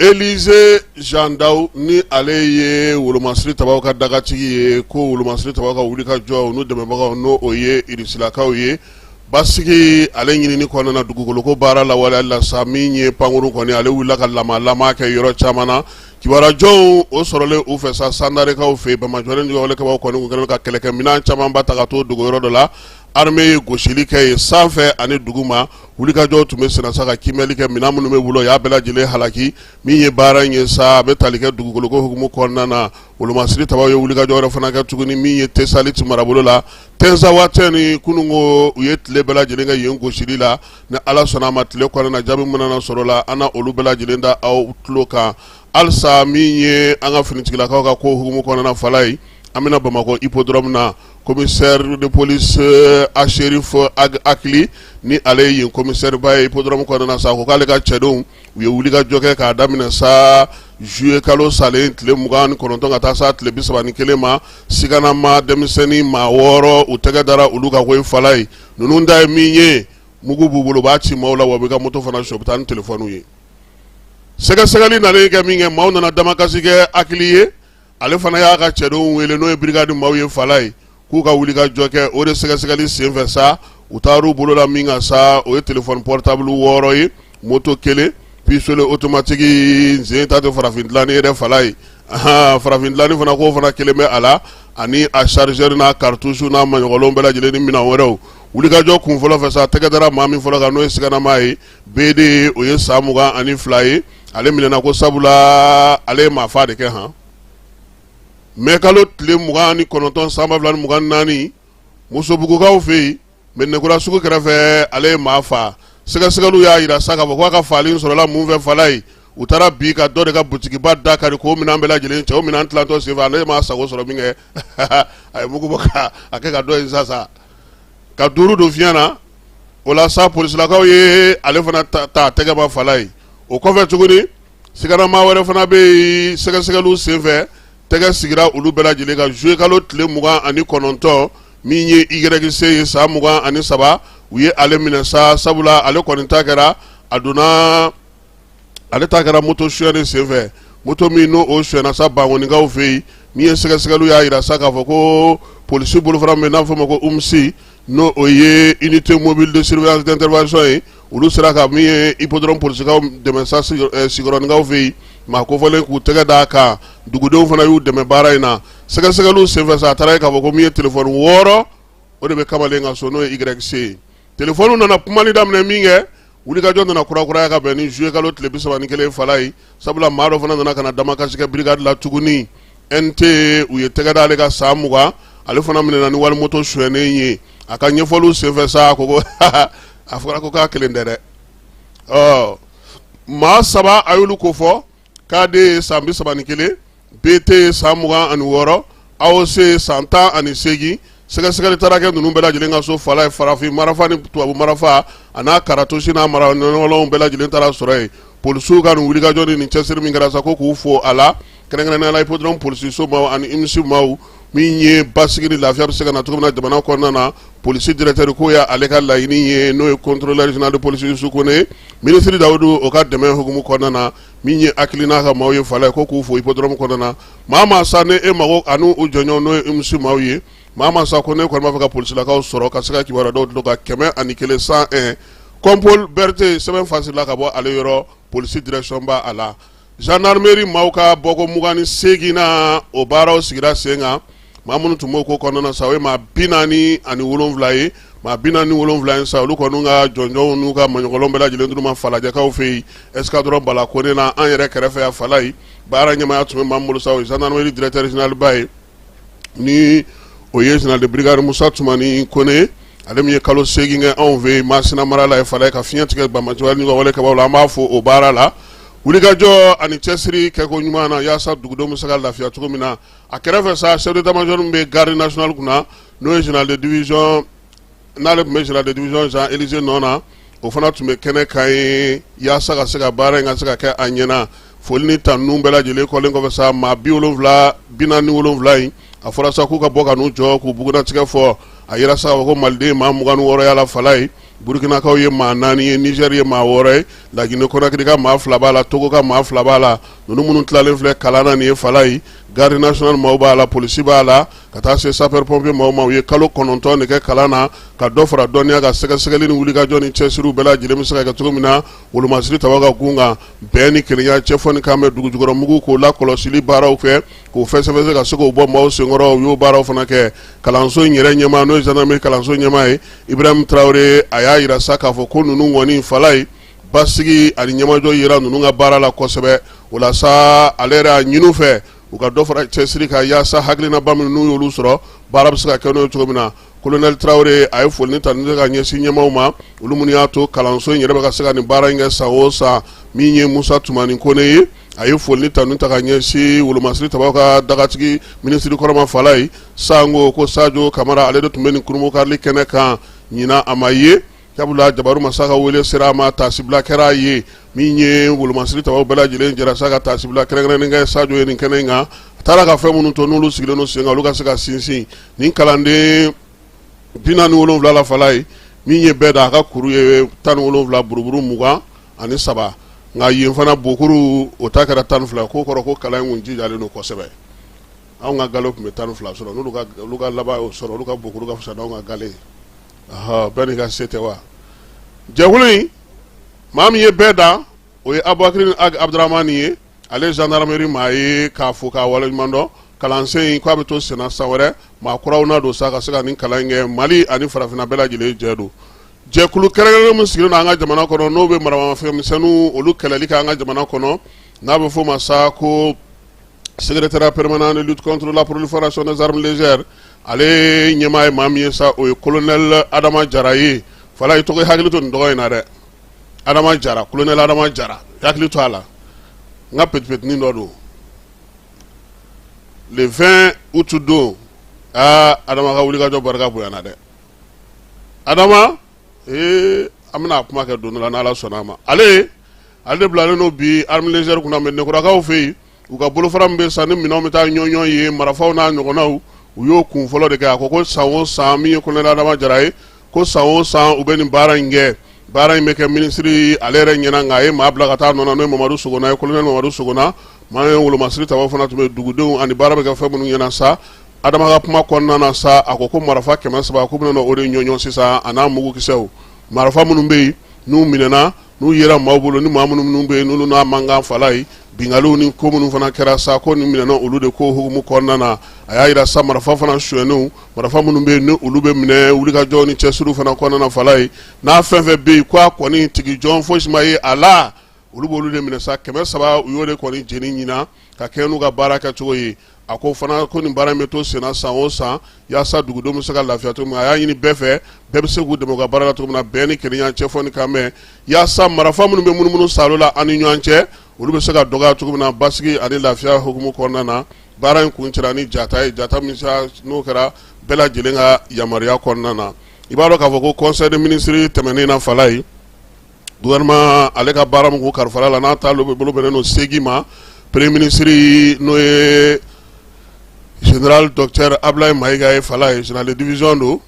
Élisée Jean Dao ni ale ye wolomasiri tabaw ka dagatigi ye ko wolomasiri tabaw ka wulikajɔw n'u dɛmɛbagaw n' o ye irisilakaw ye basigi ale ɲinini kɔnɔna na dugukoloko baara lawaleyali la sa min ye pankurun kɔni ale wulila ka lamalama kɛ yɔrɔ caman na kibaruya jɔnjɔnw o sɔrɔlen u fɛ sa sandarekaw fɛ bamajɔlen juguwalekɛbaw kɔni tun kɛlen ka kɛlɛkɛminɛn caman ba ta k'a to dogo yɔrɔ dɔ la armée ye gosili kɛ ye sanfɛ ani duguma wulikajɔw tun bɛ senna sa ka kiimɛli kɛ minɛn minnu bɛ bolo y'a bɛɛ lajɛlen halaki min ye baara in ye sa a bɛ tali kɛ dugukoloko hukumu kɔnɔna na wolomasiri tabaw ye wulikajɔ wɛrɛ fana kɛ tuguni min ye tesaliti marabolo la tinzawatɛni kunun ko u ye tile bɛɛ lajɛlen kɛ yen gosili la ni ala sɔnna a ma tile kɔnɔna na jaabi mun mana sɔrɔ la an na olu bɛɛ lajɛlen da aw tulo kan halisa min ye an ka finitigilakaw ka ko hukumu kɔnɔna fala ye an bɛna bamakɔ hippodrome na commissaire de police euh, achérif euh, ag akili ni ale ye yen commissaire ba ye hippodrome kɔnɔna na sa ko k'ale ka cɛdenw u ye wulikajɔ kɛ k'a daminɛ sa juillet kalo salen tile mugan ni kɔnɔntɔn ka taa sa tile bisaba ni kelen ma siganama denmisɛnnin maa wɔɔrɔ u tɛgɛ dara olu kan ko ye fala ye ninnu da ye min ye mugu b'u bolo u b'a ci maaw la wa u b'i ka moto fana sɔrɔ u bɛ taa ni telefɔniw ye sɛgɛsɛgɛli nalen kɛ min kɛ maaw nana damakasi kɛ akili ye ale fana y'a ka cɛdenw wele n'o ye brigade maaw ye fala ye k'u ka wuli ka jɔ kɛ o de sɛgɛsɛgɛli senfɛ sa u taar'u bolo da min kan sa o ye téléphone portable wɔɔrɔ ye moto kelen pistolet automatique izini ta tɛ farafin dilanni yɛrɛ fala ye farafin dilanni fana ko fana kelen bɛ a la ani a chargeur n'a cartouche n'a maɲɔgɔnnaw bɛɛ lajɛlen ni minɛn wɛrɛw wulikajɔ kun fɔlɔ fɛ sa tɛgɛ dara maa min fɔlɔ kan n'o ye siganama ye BD o ye san mugan ani fila ye ale minɛna ko sabulaa ale ye maa faa de kɛ han mɛkalo tile mugan ani kɔnɔntɔn san ba fila ni mugan ni naani musobugukaw fɛ yen mɛnɛkura sugu kɛrɛfɛ ale ye maa faa sɛgɛsɛgɛliw y'a jira sa k'a fɔ k'a ka faali in sɔrɔla mun fɛ fala ye u taara bi ka dɔ de ka butikiba da kari k'o minɛn bɛɛ lajɛlen cɛ o minɛn tilantɔ senfɛ ale m'a sago sɔrɔ min kɛ a ye mugu bɔ ka a kɛ ka dɔ in sa sa ka duuru don fiɲɛ na o la sa polisilakaw ye ale fana ta tɛgɛ ma fala ye o kɔfɛ tuguni siganamaa wɛrɛ fana bɛ yen sɛgɛsɛgɛliw senfɛ tɛgɛ sigira olu bɛɛ lajɛlen kan zuye kalo tile mugan ani kɔnɔntɔn min ye YC ye san mugan ani saba u ye ale minɛ sa sabula ale kɔni ta kɛra a donna ale ta kɛra moto suyɛn de senfɛ moto min n'o o suyɛnna sa bankonikaw fɛ yen min ye sɛgɛsɛgɛliw y'a jira sa k'a fɔ ko polisi bolofara min n'a fɔ ma ko UMSI n'o o ye unité mobile de surveillance d'intervention ye olu sera ka min ye hippodrome polisikaw dɛmɛ sa eh, Sikɔrɔnikaw fɛ yen maa kofɔlen k'u tɛgɛ d'a kan dugudenw fana y'u dɛmɛ baara in na sɛgɛsɛgɛliw senfɛ sa a taara ye k'a fɔ ko min ye telefɔni wɔɔrɔ o de bɛ kamalen ka so n'o ye YC ye telefɔniw nana kumali daminɛ min kɛ wulikajɔ nana kurakuraya ka bɛn ni zuye kalo tile bisaba ni kelen fala ye sabula maa dɔ fana nana ka na damakasi kɛ birigadi la tuguni NT u ye tɛgɛ d'ale kan san mugan ale fana minɛna ni wali moto suɲɛnen ye a ka ɲɛfɔliw senfɛ sa a ko ko a fɔra ko k'a kelen tɛ dɛ ɔ maa saba a y'olu kofɔ KD ye san bi saba ni kelen BT ye san mugan ani wɔɔrɔ AOC ye san tan ani seegin sɛgɛsɛgɛli taara kɛ ninnu bɛɛ lajɛlen ka so fala ye farafin marafa ni tubabu marafa an'a karatosi n'a mara ɲɔgɔlɔnw bɛɛ lajɛlen taara sɔrɔ yen polisiw ka nin wulikajɔ ni nin cɛsiri min kɛra sa ko k'u fo a la kɛrɛnkɛrɛnnenya la hippodrome polisiso maaw ani UMSI maaw min ye basigi ni lafiya bɛ se ka na cogo min na jamana kɔnɔna na polisi directeur k'o y'ale ka laɲini ye n'o ye contrôleur général de police Youssou Kone minisiri Dawudu o ka dɛmɛ hukumu kɔnɔna na min ye hakilina ka maaw ye fala ye ko k'u fo hippodrome kɔnɔna na maa maa sa ni e mago ani u jɛɲɔgɔn n'o ye UMSI maaw ye maa maa sa ko ne kɔni b'a fɛ ka polisilakaw sɔrɔ ka se ka kibaruya dɔw d'u tulo kan kɛmɛ ani kelen cent un Kɔnpol Bɛrite sɛbɛn fasila ka bɔ ale yɔrɔ polisi direction ba a la Zandaremeri maaw ka bɔko mugan ni seeginnan na o baaraw sigira sen kan maa minnu tun b'o ko kɔnɔna sa o ye maa bi naani ani wolonwula ye maa bi naani ni wolonwula in sa olu kɔni ka jɔnjɔnw n'u ka maɲɔgɔlɔn bɛɛ lajɛlen dira u ma falajɛkaw fɛ yen escadron Bala Kone na an yɛrɛ kɛrɛfɛ yan fala ye baara ɲɛmaaya tun bɛ maa min bolo sa o ye zandaremeri directeur général ba ye ni o ye général de brigade Musa Tumani Kone ale min ye kalo seegin kɛ anw fɛ Masina mara la fala ye ka fiɲɛ tigɛ banbaanci wale wale kɛbaaw la an b'a fo o baara la wulikajɔ ani cɛsiri kɛko ɲuman na yaasa dugudenw bɛ se ka lafiya cogo min na a kɛrɛfɛ sa chef d'état major min bɛ garde nationale kunna n'o ye général de division n'ale tun bɛ général de division Jean Élisée nɔ na o fana tun bɛ kɛnɛ kan yen yaasa ka se ka baara in ka se ka kɛ a ɲɛna foli ni tanu bɛɛ lajɛlen kɔlen kɔfɛ sa maa bi wolonwula bi naani ni wolonwula in a fɔra sa k'u ka bɔ ka n'u jɔ k'u bugunnatigɛ fɔ a yira sa k'a fɔ ko maliden ye maa mugan ni wɔɔrɔ y'a la fala ye burukinakaw ye maa naani ye nizɛri ye maa wɔɔrɔ ye laginɛ konakiri ka maa fila b'a la togo ka maa fila b'a la ninnu minnu tilalen filɛ kalan na nin ye fala ye garde nationale maaw b'a la polisi b'a la ka taa se sapeurs pompiers maaw ma u ye kalo kɔnɔntɔn de kɛ kalan na ka dɔ fara dɔnniya kan sɛgɛsɛgɛli ni wulikajɔ ni cɛsiriw bɛɛ lajɛlen bɛ se ka kɛ cogo min na wolomasiri tabaw ka gun kan bɛn ni kelenya cɛfɔ ni kan bɛ dugu jukɔrɔ mugu k'o lakɔlɔsili baaraw kɛ k'o fɛsɛfɛsɛ ka se k'o bɔ maaw senkɔrɔ u y'o baaraw fana kɛ kalanso in yɛrɛ ɲɛmaa n'o ye zandarmeri kalanso ɲɛmaa ye ibrahim tarawele a y'a yira sa k'a fɔ ko ninnu kɔni fala ye basigi ani ɲɛmajɔ yira ninnu ka baara la kosɛbɛ o la sa ale yɛrɛ a ɲin'u fɛ u ka dɔ fara cɛsiri kan yaasa hakilinaba minnu n'u y'olu sɔrɔ baara bɛ se ka kɛ n'o ye cogo min na kolonɛli tarawele a ye foli ni tanuni ta ka ɲɛsin ɲɛmaaw ma olu minnu y'a to kalanso in yɛrɛ bɛ ka se ka nin baara in kɛ san o san min ye musa tumani kone ye a ye foli ni tanuni ta ka ɲɛsin wolomasiri tabaw ka dagatigi minisiri kɔrɔ ma fala ye sango ko sajo kamara ale de tun bɛ nin kurumukali kɛnɛ kan ɲinan a ma ye Sabula jabaru masa ka wele sera a ma tasibila kɛra a ye min ye wolomasiri tabaw bɛɛ lajɛlen jɛra sa ka tasibila kɛrɛnkɛrɛnnen kɛ sajo ye nin kɛnɛ in kan a taara ka fɛn minnu to n'olu sigilen sen kan olu ka se ka sinsin nin kalanden bi naani ni wolonwula la fala ye min ye bɛɛ da a ka kuru ye tan ni wolonwula buruburu mugan ani saba nka yen fana bokuru o ta kɛra tan ni fila k'o kɔrɔ ko kalan in kun jijalen don kosɛbɛ anw ka gale tun bɛ tan ni fila sɔrɔ n'olu ka laban y'o sɔrɔ olu ka bokuru ka fisa n'anw ka gale ɔhɔ bɛɛ n'i ka se tɛ wa jɛkulu in maa min ye bɛɛ da o ye abubakirini Ag abudurahmani ye ale ye zandarameri maa ye k'a fo k'a waleɲuman dɔn kalansen in k'a bɛ to senna san wɛrɛ maa kuraw na don sa ka se ka nin kalan in kɛ mali ani farafinna bɛɛ lajɛlen jɛ don jɛkulu kɛrɛnkɛrɛnnen min sigilen don an ka jamana kɔnɔ n'o bɛ maramafɛnmisɛnninw olu kɛlɛli kɛ an ka jamana kɔnɔ n'a bɛ f'o ma sa ko secrétariat permanent de lutte contre la prolifération des armes légères ale ɲɛmaa ye maa min ye sa o ye colonel adama jara ye fala i tɔgɔ hakili to nin tɔgɔ in na dɛ adama jara colonel adama jara hakili to a la n ka petipetinin dɔ don le 20 août don aa adama ka wulikajɔ barika bonyana dɛ adama ee an bɛna a kuma kɛ don dɔ la n'Ala sɔnn'a ma ale ale de bilalen don bi armes légères kunna mais nekurakaw fɛ yen u ka bolofara min bɛ San ni minɛnw bɛ taa ɲɔɲɔ yen marafaw n'a ɲɔgɔnnaw u y'o kun fɔlɔ de kɛ a ko ko san o san min ye colonel Adama Jara ye ko san o san u bɛ nin baara in kɛ baara in bɛ kɛ minisiri ale yɛrɛ ɲɛna nka a ye maa bila ka taa a nɔ na n'o ye Mamadu Sogona ye colonel Mamadu Sogona maa min ye wolomasiri tabaw fana tun bɛ yen dugudenw ani baara bɛ kɛ fɛn minnu ɲɛna sa adama ka kuma kɔnɔna na sa a ko ko marifa kɛmɛ saba k'u bɛna o de ɲɔɲɔ sisan a n'a mugukisɛw marifa minnu bɛ yen n'u minɛna n'u yera maaw bolo ni maa minnu minnu bɛ yen n'olu n'a mankan fala ye binkaliw ni ko minnu fana kɛra sa ko nin minɛna olu de ko hukumu kɔnɔna na a y'a yira sa marifa fana suyɛnenw marifa minnu bɛ yen ni olu bɛ minɛ wulikajɔ ni cɛsiriw fana kɔnɔna na fala ye n'a fɛn fɛn bɛ yen ko a kɔni tigi jɔn fosi ma ye a la olu b'olu de minɛ sa kɛmɛ saba u y'o de kɔni jeni ɲinan ka kɛ n'u ka baara kɛcogo ye A ko fana ko nin baara in bɛ to senna san o san yaasa dugudenw bɛ se ka lafiya cogo min a y'a ɲini bɛɛ fɛ bɛɛ bɛ se k'u dɛmɛ u ka baara la cogo min na bɛn ni kelenya cɛ fɔ ni kan mɛn yaasa marifa minnu bɛ munumunu sa la an ni ɲɔgɔn cɛ olu bɛ se ka dɔgɔya cogo min na basigi ani lafiya hukumu kɔnɔna na baara in kuncɛra ni jata ye jata min n'o kɛra bɛɛ lajɛlen ka yamaruya kɔnɔna na i b'a dɔn k'a fɔ ko conseil des ministres tɛmɛnen na fala ye Gouvernement ale ka baara min kun kalifala la n'a taabolo bɛnnen don seegin ma premier ministre n'o ye général docteur Abulayi Mayiga ye Fala ye général de division don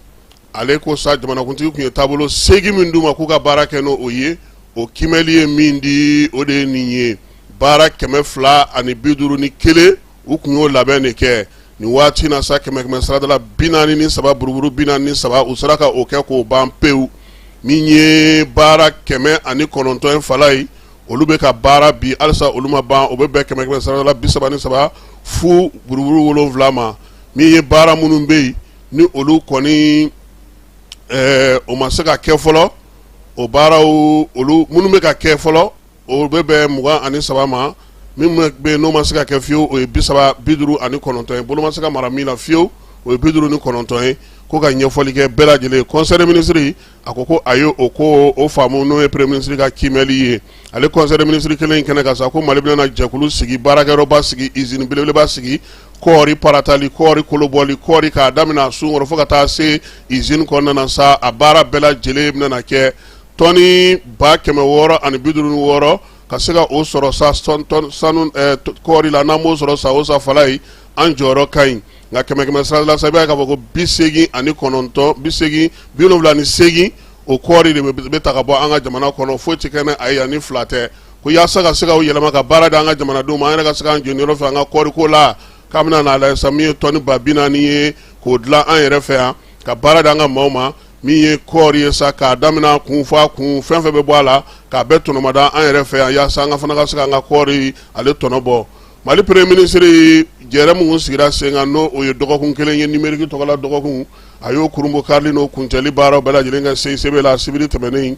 ale ko sa jamanakuntigi kun ye taabolo seegin min d'u ma k'u ka baara kɛ n'o ye o kimɛli ye min di o de ye nin ye baara kɛmɛ fila ani bi duuru ni kelen u kun y'o labɛn de kɛ nin waati na sa kɛmɛ kɛmɛ saradala bi naani ni saba buruburu bi naani ni saba u sera ka o kɛ k'o ban pewu min ye baara kɛmɛ ani kɔnɔntɔn in fala ye olu bɛ ka baara bi halisa olu ma ban o bɛ bɛn kɛmɛ kɛmɛ saradala bi saba ni saba fu buruburu wolonwula ma min ye baara minnu bɛ yen ni olu kɔni ɛɛ o ma se ka kɛ fɔlɔ o baaraw olu minnu bɛ ka kɛ fɔlɔ o bɛ bɛn mugan ani saba ma min bɛ yen n'o ma se ka kɛ fiyewu o ye bi saba bi duuru ani kɔnɔntɔn ye bolo ma se ka maga min na fiyewu o ye bi duuru ni kɔnɔntɔn ye ko ka ɲɛfɔli kɛ bɛɛ lajɛlen ye conseil des ministres a ko ko a ye o ko o faamu n'o ye premier ministre ka kimɛli ye ale conseil des ministres kelen in kɛnɛ kan sa ko mali bɛna jɛkulu sigi baarakɛyɔrɔba sigi usine belebeleba sigi kɔɔri paratali kɔɔri kolobɔli kɔɔri k'a daminɛ sunkɔrɔ fo ka taa se usine kɔnɔna na sa a baara bɛɛ lajɛlen bɛna kɛ tɔni ba kɛmɛ wɔɔrɔ ani bi duuru ni wɔɔrɔ ka se ka o sɔrɔ sa sanu kɔɔri la n'an b'o sɔrɔ sa o sa fala ye an jɔyɔrɔ ka ɲi nka kɛmɛ kɛmɛ sarala sa i b'a ye k'a fɔ ko bi seegin ani kɔnɔntɔn bi seegin bi wolonwula ni seegin o kɔɔri de bɛ ta ka bɔ an ka jamana kɔnɔ foyi tɛ kɛ n'a ye yan ni fila tɛ ko yaasa ka se ka o yɛlɛma ka baara di an ka jamanadenw ma an yɛrɛ ka se k'an jeniyɔrɔ fin an ka kɔɔriko la k'an bɛna n'a lajɛ sa min ye tɔni ba bi naani ye k'o dilan an yɛrɛ fɛ yan ka baara di an ka maaw ma min ye kɔɔri ye sa k'a daminɛ a kun fo a kun fɛn fɛn bɛ bɔ a la k'a bɛɛ tɔnɔmada an yɛrɛ fɛ yan yaasa an ka fana ka se k'an ka kɔɔri ale tɔnɔ bɔ mali premier ministre jɛrɛ min sigira sen kan n'o o ye dɔgɔkun kelen ye numérique tɔgɔla dɔgɔkun a y'o kurunbonkarili n'o kuncɛli baaraw bɛɛ lajɛlen kɛ CICB la sibiri tɛmɛnen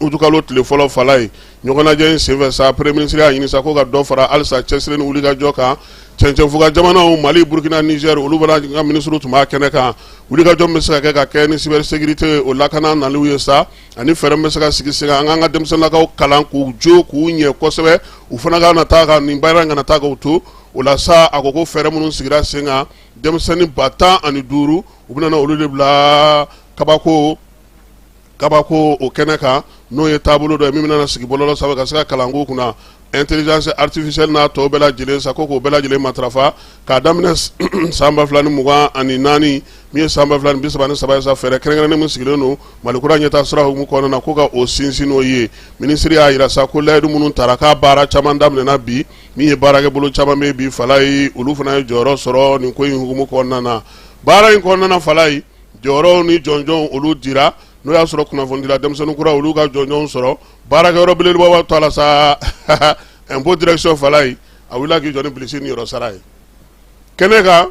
utukalo tile fɔlɔ fala ye ɲɔgɔnnajɛ in senfɛ sa premier ministre y'a ɲini sa ko ka dɔ fara halisa cɛsiri ni wulikajɔ kan cɛncɛnfuga jamanaw mali burukina Niger olu fana ka minisiriw tun b'a kɛnɛ kan wulikajɔ min bɛ se ka kɛ ka kɛ ni cybersécurité o lakanaliw ye sa ani fɛɛrɛ min bɛ se ka sigi sen kan an k'an ka denmisɛnninlakaw kalan k'u jo k'u ɲɛ kosɛbɛ u fana kana taa ka nin baara in kana taa k'u to o la sa a ko ko fɛɛrɛ minnu sigira sen kan denmisɛnnin ba tan ani duuru u bɛna olu de bila kabako kabako o kɛnɛ kan n'o ye taabolo dɔ min bɛna sigi bɔlɔlɔ sanfɛ ka se ka kalanko kunna intelligence artificielle n'a tɔw bɛɛ lajɛlen sa ko k'o bɛɛ lajɛlen matarafa k'a daminɛ san ba fila ni mugan ani naani min ye san ba fila ni bi saba ni saba sa fɛɛrɛ kɛrɛnkɛrɛnnen min sigilen don mali kura ɲɛtaa sira hukumu kɔnɔna na ko ka o sinsin n'o ye minisiri y'a yira sa ko layidu minnu tara k'a baara caman daminɛna bi min ye baarakɛbolo caman bɛ bi fala ye olu fana ye jɔyɔrɔ sɔrɔ nin ko in hukumu kɔnɔna na baara in kɔnɔna fala ye jɔyɔrɔw ni jɔnjɔnw olu dira n'o y'a sɔrɔ kunnafonidila denmisɛnnin kura olu ka jɔnjɔnw sɔrɔ baarakɛyɔrɔ belebeleba b'a to a la sa impôt direction fala ye a wulila k'i jɔ ni bilisi ni yɔrɔ sara ye kɛnɛ kan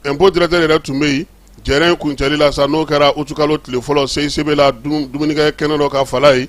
impôt directeur yɛrɛ tun bɛ yen jɛrɛ in kuncɛli la sa n'o kɛra utukalo tile fɔlɔ CICB la dumunikɛ kɛnɛ dɔ kan fala ye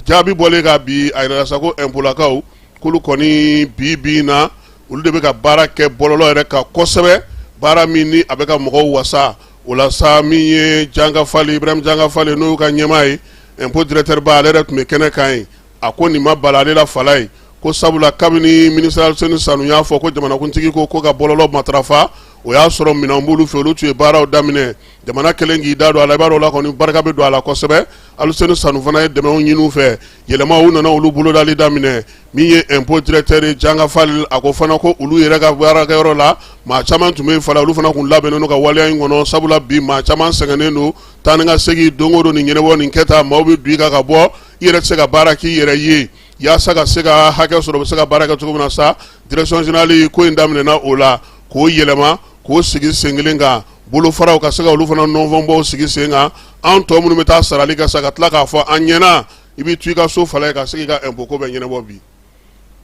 Jaabi bɔlen ka bi a yirala sa ko impôtlakaw k'olu kɔni bi bi in na olu de bɛ ka baara kɛ bɔlɔlɔ yɛrɛ kan kosɛbɛ baara min ni a bɛ ka mɔgɔw wasa o la sa min ye Janga Fal Ibrahima Janga Fal n'o y'u ka ɲɛmaa ye impôt directeurba ale yɛrɛ tun bɛ kɛnɛ kan ye a ko nin ma bala ale la fala ye ko sabula kabini minisiri Alseni Sanu y'a fɔ ko jamanakuntigi ko ko ka bɔlɔlɔ matarafa o y'a sɔrɔ minɛn b'olu fɛ olu tun ye baaraw daminɛ jamana kelen k'i da don a la i b'a dɔn o la kɔni barika bɛ don a la kosɛbɛ Alseni Sanu fana ye dɛmɛnw ɲini u fɛ yɛlɛmaw nana olu bolodali daminɛ min ye impôt directeur ye Janga Fal a ko fana ko olu yɛrɛ ka baarakɛyɔrɔ la maa caman tun bɛ yen fala olu fana kun labɛnnen don ka waleya in kɔnɔ sabula bi maa caman sɛgɛnnen don taa ni ka segin don o don nin ɲɛnabɔ nin kɛta maaw bɛ don i kan ka bɔ i yɛrɛ tɛ se ka baara k'i yɛrɛ ye yaasa ka se ka hakɛ sɔrɔ u bɛ se ka baara kɛ cogo min na sa direction générale ko in daminɛna o la k'o yɛlɛma k'o sigi sen kelen kan bolofaraw ka se ka olu fana nɔnfɔbaw sigi sen kan an tɔw minnu bɛ taa sarali kɛ sa ka tila k'a fɔ an ɲɛna i bɛ to i ka so fala ye ka se k'i ka impôt ko bɛɛ ɲɛnabɔ bi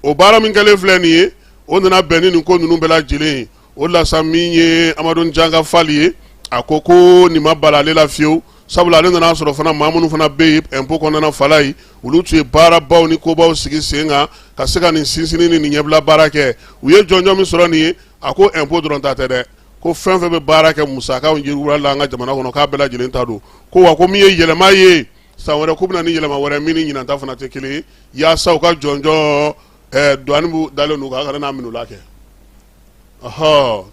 o baara min kɛlen filɛ nin ye o nana bɛn ni nin ko ninnu bɛɛ lajɛlen ye o lasa min ye Amadu Janga Fal ye a ko ko nin ma bala ale la fiyewu sabula ale nana a sɔrɔ fana maa minnu fana bɛ yen impôt kɔnɔna fala ye olu tun ye baarabaw ni kobaw sigi sen kan ka se ka nin sinsinni ni nin ɲɛbila baara kɛ u ye jɔnjɔn min sɔrɔ nin ye a ko impôt dɔrɔn ta tɛ dɛ ko fɛn fɛn bɛ baara kɛ musaka la an ka jamana kɔnɔ k'a bɛɛ lajɛlen ta don ko wa ko min ye yɛlɛma ye san wɛrɛ k'u bɛna ni yɛlɛma wɛrɛ min ni ɲinan ta fana tɛ kelen ye yaasa u ka jɔnjɔn eh, dɔnnibu dalen don kan kana n'a minula kɛ ɔhɔ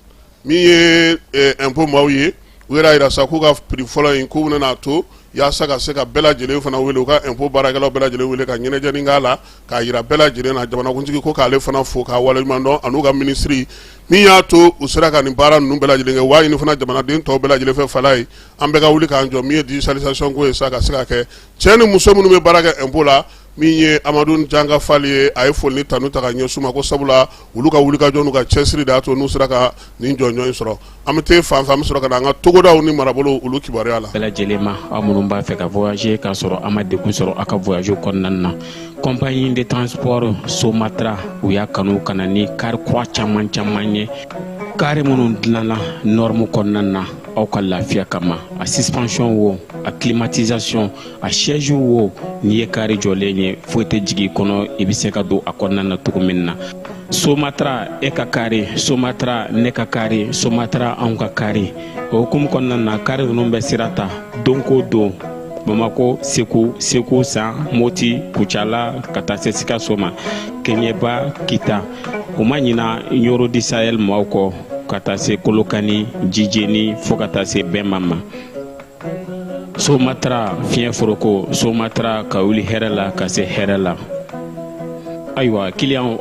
min ye eh, impôt maaw ye u yɛrɛ yira sa k'u ka prix fɔlɔ in k'u bɛna to yaasa ka se ka bɛɛ lajɛlen fana wele u ka impôt baarakɛlaw bɛɛ lajɛlen wele ka ɲɛnajɛni k'a la k'a yira bɛɛ lajɛlen na jamanakuntigi ko k'ale fana fo k'a waleɲuman dɔn an'u ka minisiri min y'a to u sera ka nin baara ninnu bɛɛ lajɛlen kɛ wa a ɲini fana jamanaden tɔw bɛɛ lajɛlen fɛ fala ye an bɛɛ ka wuli k'an jɔ min ye digitalisation ko ye sa ka se ka kɛ cɛ ni muso minnu bɛ baara kɛ impôt la min ye Amadu Janga Fali ye a ye foli ni tanu ta ka ɲɛsin u ma ko sabula olu ka wulikajɔ n'u ka cɛsiri de y'a to n'u sera ka nin jɔnjɔn in sɔrɔ an bɛ t'e fan fɛ an bɛ sɔrɔ ka na an ka togodaw ni marabolow olu kibaruya la bɛɛ lajɛlen ma aw minnu b'a fɛ ka voyager k'a sɔrɔ a ma degun sɔrɔ a ka voyage kɔnɔna na compagnie de transport somatra u y'a kanu ka na ni kari kura caman caman ye kari minnu dilanna nɔrɔmu kɔnɔna na aw ka lafiya kama a suspension wo a climatisation a siège wo n'i ye kari jɔlen ye foyi tɛ jigin kɔnɔ i bɛ se ka don a kɔnɔna na cogo min na somatra e ka kari somatra ne ka kari somatra anw ka kari o hukumu kɔnɔna na kari ninnu bɛ sira ta don ko don bamakɔ segu segu san moti kucala ka taa se sikaso ma keɲeba kita u ma ɲina ɲɔrɔ du sahɛl maaw kɔ ka taa se kolokani jijeni fo ka taa se bɛma ma somatara fiɲɛ foroko somatara ka wuli hɛrɛ la ka se hɛrɛ la ayiwa kiliyanw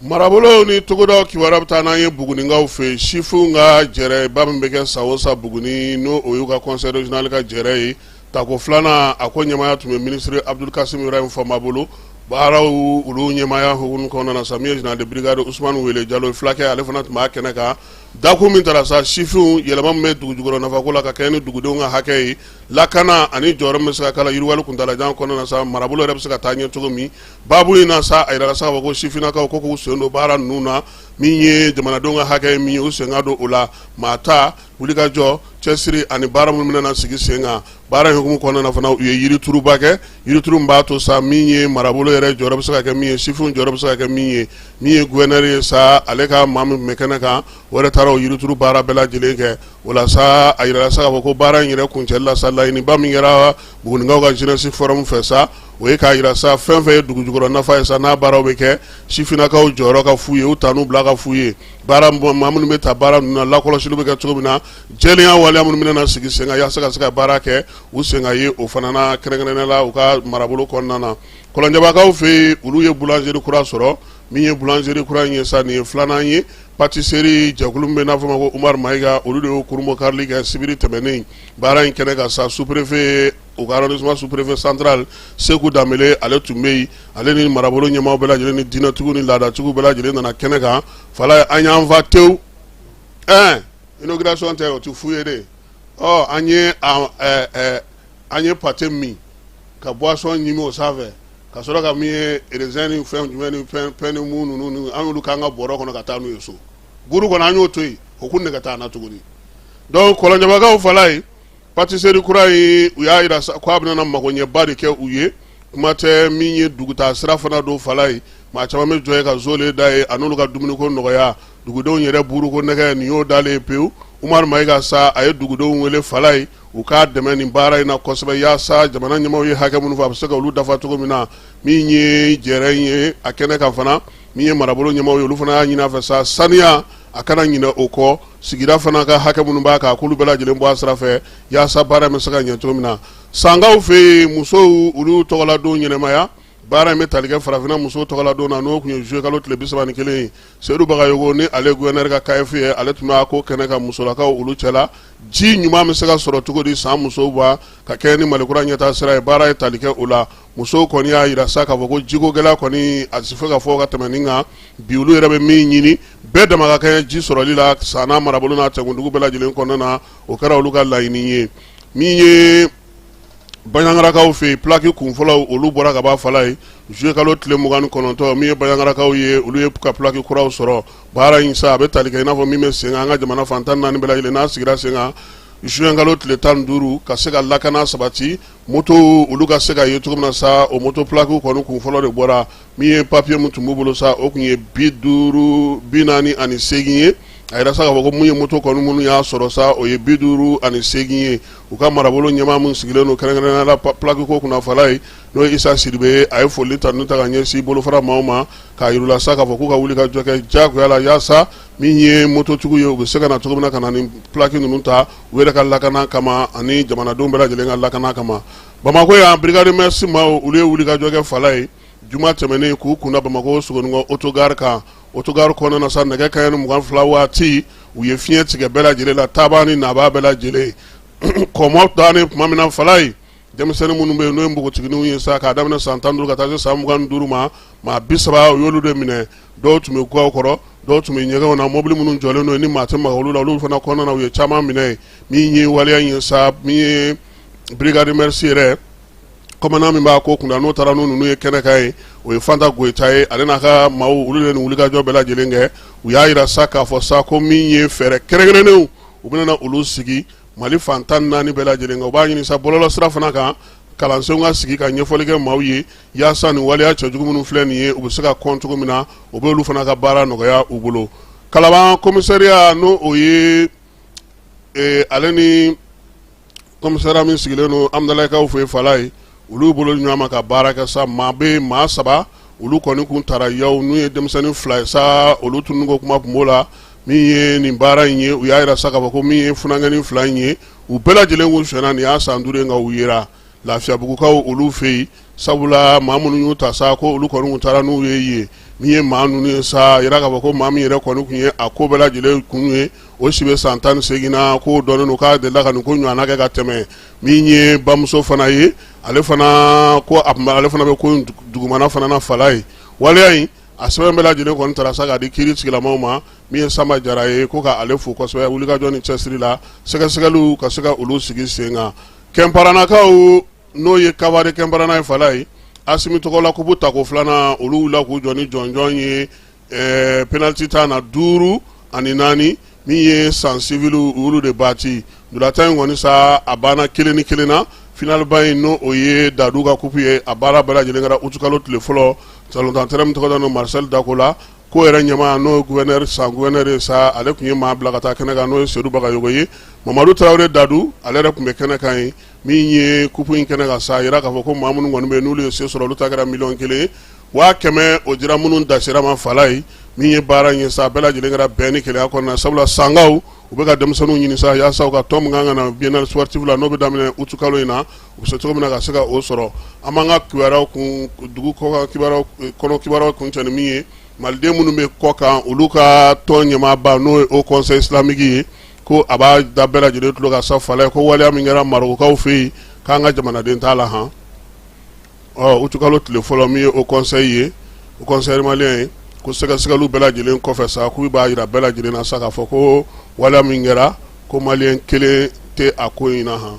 marabolow ni togodaw kibaruya bɛ taa n'an ye buguninkaw fɛ sifinw ka jɛrɛba min bɛ kɛ san o san buguni n'o y'u ka conseil régional ka jɛrɛ ye tako filanan a ko ɲɛmaya tun bɛ minisiri abdul kasim ibrahim fɔnba bolo baaraw olu ɲɛmaya hukumu kɔnɔna na sa min ye général de brigade usumani wele jalo ye fulakɛ ale fana tun b'a kɛnɛ kan Dakun min taara sa sifinw yɛlɛma min bɛ dugu jukɔrɔ nafako la ka kɛ ni dugudenw ka hakɛ ye lakana ani jɔyɔrɔ min bɛ se ka k'a la yiriwali kuntaalajan kɔnɔna na sa marabolo yɛrɛ bɛ se ka taa ɲɛ cogo min baabu in na sa a yirala sa ko sifininakaw ko k'u sen don baara ninnu na min ye jamanadenw ka hakɛ ye min ye u sen ka don o la maa ta wulikajɔ cɛsiri ani baara minnu bɛna na sigi sen kan baara in hukumu kɔnɔna na fana u ye yirituruba kɛ yirituru b'a to sa min ye marabolo yɛrɛ jɔyɔrɔ bɛ se ka kɛ min ye sifinw jɔyɔrɔ bɛ se ka kɛ min ye min ye gouverneur ye sa ale ka maa min bɛ kɛnɛ kan o yɛrɛ taara o yirituru baara bɛɛ lajɛlen kɛ o la sa a yirala sa k'a fɔ ko baara in yɛrɛ kuncɛli la sa laɲiniba min kɛra buguninkaw ka jeunesse forum fɛ sa o ye k'a yira sa fɛn fɛn ye dugujukɔrɔ nafa ye sa n'a baaraw bɛ kɛ sifininakaw jɔyɔrɔ ka fu ye u tan n'u bila ka fu ye baara maa minnu bɛ taa baara ninnu na lakɔlɔsili bɛ kɛ cogo min na jɛlenya waleya minnu bɛna na sigi sen kan yaasa ka se ka baara kɛ u sen ka ye o fana na kɛrɛnkɛrɛnnenya la u ka marabolo kɔnɔna na Kɔlɔnjɛbakaw fɛ yen, olu ye boulangerie kura sɔrɔ, min ye boulangerie kura in ye sa, nin ye filanan ye. Patisserie jɛkulu min bɛ n'a fɔ ma ko Umaru Mayiga, olu de y'o kurunbonkarili kɛ sibiri tɛmɛnen baara in kɛnɛ kan sa. Sous-préfet u ka arrondissement sous-préfet central Seku Danbele, ale tun bɛ yen, ale ni marabolo ɲɛmaaw bɛɛ lajɛlen ni diinɛtigiw ni laadatigiw bɛɛ lajɛlen nana kɛnɛ kan fala ye. An y'an fa tewu. Ɛɛ inauguration tɛ, o tɛ fu ye de. Ɔ an ye a ɛɛ an ye pate min ka boisson ɲimi o sanfɛ ka sɔrɔ ka min ye raisin ni fɛn jumɛn ni fɛn ni mun ninnu ni an y'olu k'an ka bɔrɔ kɔnɔ ka taa n'u ye so buru kɔnɔ an y'o to yen o kun nɛgɛ t'an na tuguni donc kɔlɔnjɛbakaw fala ye patiseri kura in u y'a yira ko a bɛna magoɲɛba de kɛ u ye kuma tɛ min ye dugutaa sira fana don fala ye maa caman bɛ jɔ yen ka zole da ye a n'olu ka dumuniko nɔgɔya dugudenw yɛrɛ buruko nɛgɛ nin y'o dalen ye pewu umaru mayiga sa a ye dugudenw wele fala ye u k'a dɛmɛ nin baara in na kosɛbɛ yaasa jamana ɲɛmaaw ye hakɛ minnu fɔ a bɛ se ka olu dafa cogo min na min ye jɛrɛ in ye a kɛnɛ kan fana min ye marabolo ɲɛmaaw ye olu fana y'a ɲini a fɛ sa saniya a kana ɲinɛ o kɔ sigida fana ka hakɛ minnu b'a kan k'olu bɛɛ lajɛlen bɔ a sira fɛ yaasa baara in bɛ se ka ɲɛ cogo min na sankaw fɛ yen musow olu tɔgɔladon ɲɛnamaya baara in bɛ tali kɛ farafinna musow tɔgɔladon na n'o tun ye zuyekalo tile bi saba ni kelen ye Sedu Bagayɔgɔ ni ale gouverneur ka CAEF ye ale tun b'a ko kɛnɛ kan musolakaw olu cɛla ji ɲuman bɛ se ka sɔrɔ cogo di san musow ba ka kɛɲɛ ni mali kura ɲɛtaa sira ye baara ye tali kɛ o la musow kɔni y'a yira sa k'a fɔ ko jiko gɛlɛya kɔni a tɛ se ka fɔ ka tɛmɛ nin kan bi olu yɛrɛ bɛ min ɲini bɛɛ dama ka kɛɲɛ ji sɔrɔli la san marabolo n'a cɛkundugu bɛɛ lajɛlen kɔnɔna na o kɛra olu ka laɲini ye min ye bayangarakaw fɛ yen pilaki kunfɔlɔw olu bɔra kaban fala ye zuyekalo tile mugan ni kɔnɔntɔn min ye bayangarakaw ye olu y'u ka pilaki kuraw sɔrɔ baara in sa a bɛ tali kɛ i n'a fɔ min bɛ sen kan an ka jamana fan tan ni naani bɛɛ lajɛlen n'a sigira sen kan zuwɛnkalo tile tan ni duuru ka se ka lakana sabati motow olu ka se ka ye cogo min na sa o moto pilaki kɔni kunfɔlɔ de bɔra min ye papiye min tun b'u bolo sa o tun ye bi duuru bi naani ani seegin ye a yira sa k'a fɔ ko min ye moto kɔni minnu y'a sɔrɔ sa o ye bi duuru ani seegin ye u ka marabolo ɲɛmaa min sigilen don kɛrɛnkɛrɛnnenya la pilakiko kunna fala ye n'o ye isa sidibe ye a ye foli ta n'u ta ka ɲɛsin bolofara maaw ma k'a yir'u la sa k'a fɔ k'u ka wuli ka jɔ kɛ jagoya la yaasa min ye mototigiw ye u bɛ se ka na cogo min na ka na ni pilaki ninnu ta u yɛrɛ ka lakana kama ani jamanadenw bɛɛ lajɛlen ka lakana kama bamakɔ yan brigade mœurs maaw olu ye wulikajɔ kɛ fala ye juma tɛmɛnen k'u kunda bamakɔ sogoninkɔ otogari kan otogari kɔnɔna na sa nɛgɛ kanɲɛ mugan ni fila waati u ye fiɲɛ tigɛ bɛɛ lajɛlen la taabaa ni nabaa bɛɛ lajɛlen kɔmɔ dan ni tuma min na fala ye denmisɛnnin minnu bɛ yen n'o ye npogotigininw ye sa k'a daminɛ san tan duuru ka taa se san mugan duuru ma maa bi saba u y'olu de minɛ dɔw tun bɛ gaw kɔrɔ dɔw tun bɛ ɲɛgɛnw na mobili minnu jɔlen don ni maa tɛ maga olu la olu fana kɔnɔna u ye caman minɛ min ye waleya ye sa min ye brigade mœurs yɛrɛ kɔmandan min b'a ko kunna n'o taara n'u ninnu ye kɛnɛ kan ye o ye Fanta Goyita ye ale n'a ka maaw olu de ni wulikajɔ bɛɛ lajɛlen kɛ u y'a jira sa k'a fɔ sa ko min ye fɛɛrɛ kɛrɛnkɛrɛnnenw u bɛna olu sigi mali fantan naani bɛɛ lajɛlen kan u b'a ɲini sa bɔlɔlɔ sira fana kan kalansenw ka sigi ka ɲɛfɔli kɛ maaw ye yaasa nin waleya cɛjugu minnu filɛ nin ye u bɛ se ka kɔn cogo min na o bɛ olu fana ka baara nɔgɔya u bolo kalaban komisariya n'o o ye ee ale ni kɔmisara min sigilen don Amidalayikaw fɛ fala ye olu bolo di ɲɔgɔn ma ka baara kɛ sa maa bɛ maa saba olu kɔni kun taara yaw n'u ye denmisɛnnin fila ye sa olu tununni ko kuma tun b'o la min ye nin baara in ye u y'a jira sa k'a fɔ ko min ye funankɛnin fila in ye u bɛɛ lajɛlen kun sonyana nin y'a san duuru ye nka u yera lafiyabugukaw olu fɛ yen sabula maa minnu y'u ta sa ko olu kɔni kun taara n'u ye yen min ye maa ninnu ye sa jira k'a fɔ ko maa min yɛrɛ kɔni kun ye a ko bɛɛ lajɛlen kun ye o si bɛ san tan ni segin na ko dɔnnen don k'a delila ka nin ko ɲɔgɔn kɛ ka tɛmɛ min ye bamuso fana ye ale fana ko a ale fana bɛ ko dugumana fana na fala ye waleya in a sɛbɛn bɛɛ lajɛlen kɔni taara sa k'a di kiiritigɛla maaw ma min ye Samba Jara ye ko k'ale fo kosɛbɛ wulikajɔ ni cɛsiri la sɛgɛsɛgɛliw ka se ka olu sigi sen kan Kɛnparanakaw n'o ye Kawari Kɛnparana ye fala ye Asimi tɔgɔ la kupu tako filanan olu wulila k'u jɔ ni jɔnjɔn ye penalti tan na duuru ani naani min ye San civil olu de bati ntolatan in kɔni sa a banna kelen ni kelen na finaliba in n'o ye dadu ka kupu ye a baara bɛɛ lajɛlen kɛra utukalo tile fɔlɔ San ntolatan terɛn min tɔgɔ dalen don Marcel Dako la ko yɛrɛ ɲɛmaa n'o ye gouverneur San gouverneur ye sa ale tun ye maa bila ka taa kɛnɛ kan n'o ye Sedu Bagayogo ye Mamadu Tarawele Dadu ale yɛrɛ tun bɛ kɛnɛ kan ye min ye kupu in kɛnɛ kan sa a jira k'a fɔ ko maa minnu kɔni bɛ yen n'olu ye se sɔrɔ olu ta kɛra miliyɔn kelen ye waa kɛmɛ o dira minnu dasira ma fala ye min ye baara in ye sa a bɛɛ lajɛlen kɛra bɛn ni kelenya kɔnɔna sabula Sankaw u bɛ ka denmisɛnninw ɲini sa yaasa u ka tɔn min ka kan ka na biennale sportif la n'o bɛ daminɛ aout kalo in na U bɛ se cogo min na ka se ka o sɔrɔ an b'an ka kibaruyaw kun dugu kɔkan kibaruyaw kɔnɔ kibaruyaw kuncɛ ni min ye Maliden minnu bɛ kɔkan olu ka tɔn ɲɛmaaba n'o ye Haut conseil islamique ye ko a b'a da bɛɛ lajɛlen tulo kan sa fala ye ko waleya min kɛra Marɔkukaw fɛ yen k'an ka jamanaden t'a la han ɔ utikalo tile fɔlɔ min ye Haut conseil ye Haut conseil malien ye ko sɛgɛsɛgɛliw bɛɛ lajɛlen kɔfɛ sa k'u b'a jira bɛɛ lajɛlen na sa k'a fɔ ko waleya min kɛra ko maliyɛn kelen tɛ a ko in na han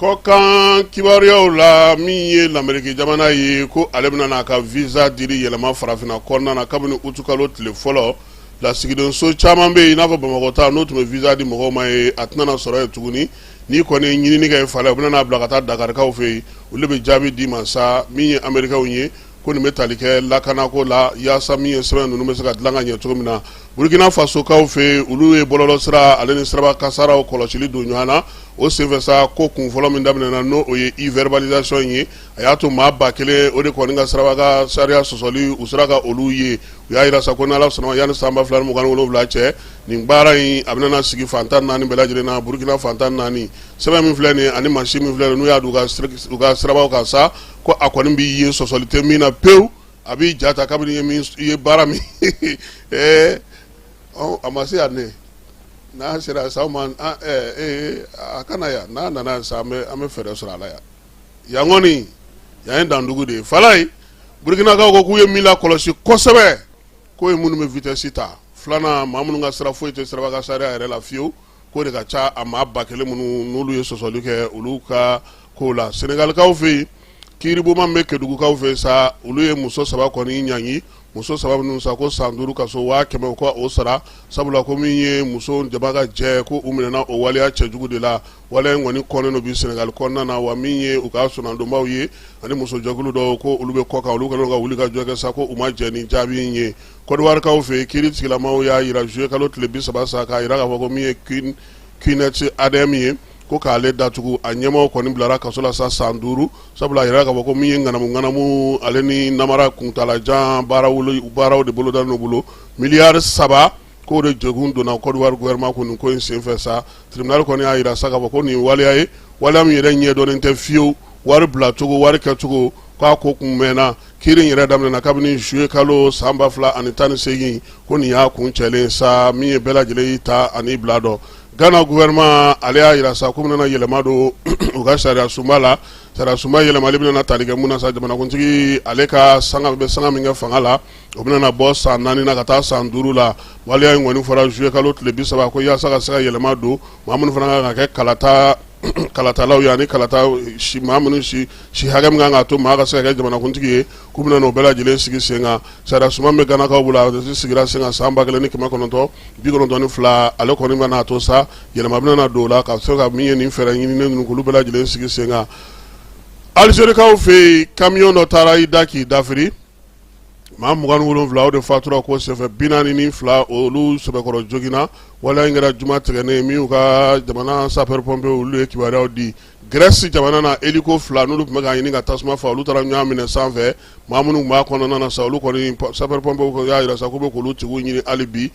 Kɔkan kibaruyaw la min ye lamerike jamana ye ko ale bɛna n'a ka visa diri yɛlɛma farafinna kɔnɔna na kabini utukalo tile fɔlɔ lasigidenso caman bɛ yen i n'a fɔ Bamakɔ ta n'o tun bɛ visa di mɔgɔw ma ye a tɛna sɔrɔ yen tuguni n'i kɔni ɲinini kɛ yen fala u bɛna n'a bila ka taa dakarikaw fɛ yen olu bɛ jaabi d'i ma sa min ye amerikaw ye ko nin bɛ tali kɛ lakana ko la yaasa min ye sɛbɛn ninnu bɛ se ka dilan ka ɲɛ cogo min na burukina fasokaw fɛ olu ye bɔlɔlɔ sira ale ni siraba kasaraw kɔlɔsili don ɲɔgɔn na o senfɛsa ko kun fɔlɔ min daminɛna n'o o ye e-verbalisation in ye a y'a to maa ba kelen o de kɔni ka siraba ka sariya sɔsɔli u sera ka olu ye u y'a jira sa ko n'ala sɔnna yanni sanba fila ni mugan ni wolonwula cɛ nin baara in a bɛna sigi fan tan naani bɛɛ lajɛlen na burukina fan tan naani sɛbɛn min filɛ nin ani mansin min filɛ n'u y'a don u ka sirabaw kan sa ko a kɔni b'i ye sɔsɔli tɛ min na pewu a b'i ja ta kabini i ye baara min ɛɛ a ma se yan ne n'a sera sa ma ee a ka na yan n'a nana sa an bɛ an bɛ fɛɛrɛ sɔrɔ a la yan yan kɔni yan ye dandugu de ye fala ye burukinakaw ko k'u ye min lakɔlɔsi kosɛbɛ k'o ye minnu bɛ vitesse ta filanan maa minnu ka sira foyi tɛ siraba ka sariya yɛrɛ la fiyewu k'o de ka ca a maa ba kelen minnu n'olu ye sɔsɔli kɛ olu ka ko la senegalikaw fɛ yen kiiribonba bɛ kedugukaw fɛ sa olu ye muso saba kɔni ɲangi muso saba minnu sa ko san duuru kaso waa kɛmɛ ko o sara sabula ko min ye muso jama ka jɛ ko u minɛna o waleya cɛjugu de la waleya in kɔni kɔnnen don bi senegali kɔnɔna na wa min ye u ka soronadonbaw ye ani musojɛkulu dɔw ko olu bɛ kɔ kan olu kɛlen don ka wulikajɔ kɛ sa ko u ma jɛn ni jaabi in ye Kɔdiwarikaw fɛ yen kiiri tigilamaw y'a jira zuye kalo tile bi saba sa k'a jira k'a fɔ ko min ye Qnet ADM ye ko k'ale datugu a ɲɛmaaw kɔni bilara kaso la sa san duuru sabula a jira k'a fɔ ko min ye ŋanamuŋanamu ale ni namara kuntaala jan baaraw de bolodalen bolo miliyari saba k'o de jɛkun donna Kɔdiwari gouvernement kun ko in senfɛ sa tribunal kɔni y'a jira sa k'a fɔ ko nin waleya ye waleya min yɛrɛ ɲɛdɔnnen tɛ fiyewu wari bilacogo wari kɛcogo k'a ko kun mɛnna Kiiri in yɛrɛ daminɛna kabini zuye kalo sanba fila ani tan ni segin ko nin y'a kuncɛlen sa min ye bɛɛ lajɛlen y'i ta ani i bila dɔn gana gouvernement ale y'a jira sa k'u bɛna yɛlɛma don u ka sariya sunba la sariya sunba yɛlɛmali bɛna tali kɛ mun na sa jamanakuntigi ale ka sanga bɛ sanga min kɛ fanga la o bɛna bɔ san naani na ka taa san duuru la waleya in kɔni fɔra zuye kalo tile bi saba ko yaasa ka se ka yɛlɛma don maa minnu fana ka kan ka kɛ kalata kalatalaw ye ani kalata maa minnu si hakɛ min ka kan k'a to maa ka se ka kɛ jamanakuntigi ye k'u bɛna n'o bɛɛ lajɛlen sigi sen kan sariya sunba bɛ ganakaw bolo a sigira sen kan san ba kelen ni kɛmɛ kɔnɔntɔn bi kɔnɔntɔn ni fila ale kɔni bɛna a to sa yɛlɛma bɛna na don o la ka se ka min ye nin fɛɛrɛ ɲininen ninnu k'olu bɛɛ lajɛlen sigi sen kan alizerikaw fɛ yen kamiyɔn dɔ taara i da k'i dafiri maa mugan wolonwula o de fatura ko senfɛ bi naani ni fila olu sɛbɛkɔrɔ joginna waleya in kɛra juma tigɛnen min y'u ka jamana sapɛripɔnpe olu ye kibaruyaw di grɛsi jamana na eliko fila n'olu tun bɛ k'a ɲini ka tasuma fa olu taara ɲɔgɔn minɛ sanfɛ maa minnu b'a kɔnɔna na sa olu kɔni sapɛripɔnpe y'a jira sa k'u bɛ k'olu tigiw ɲini hali bi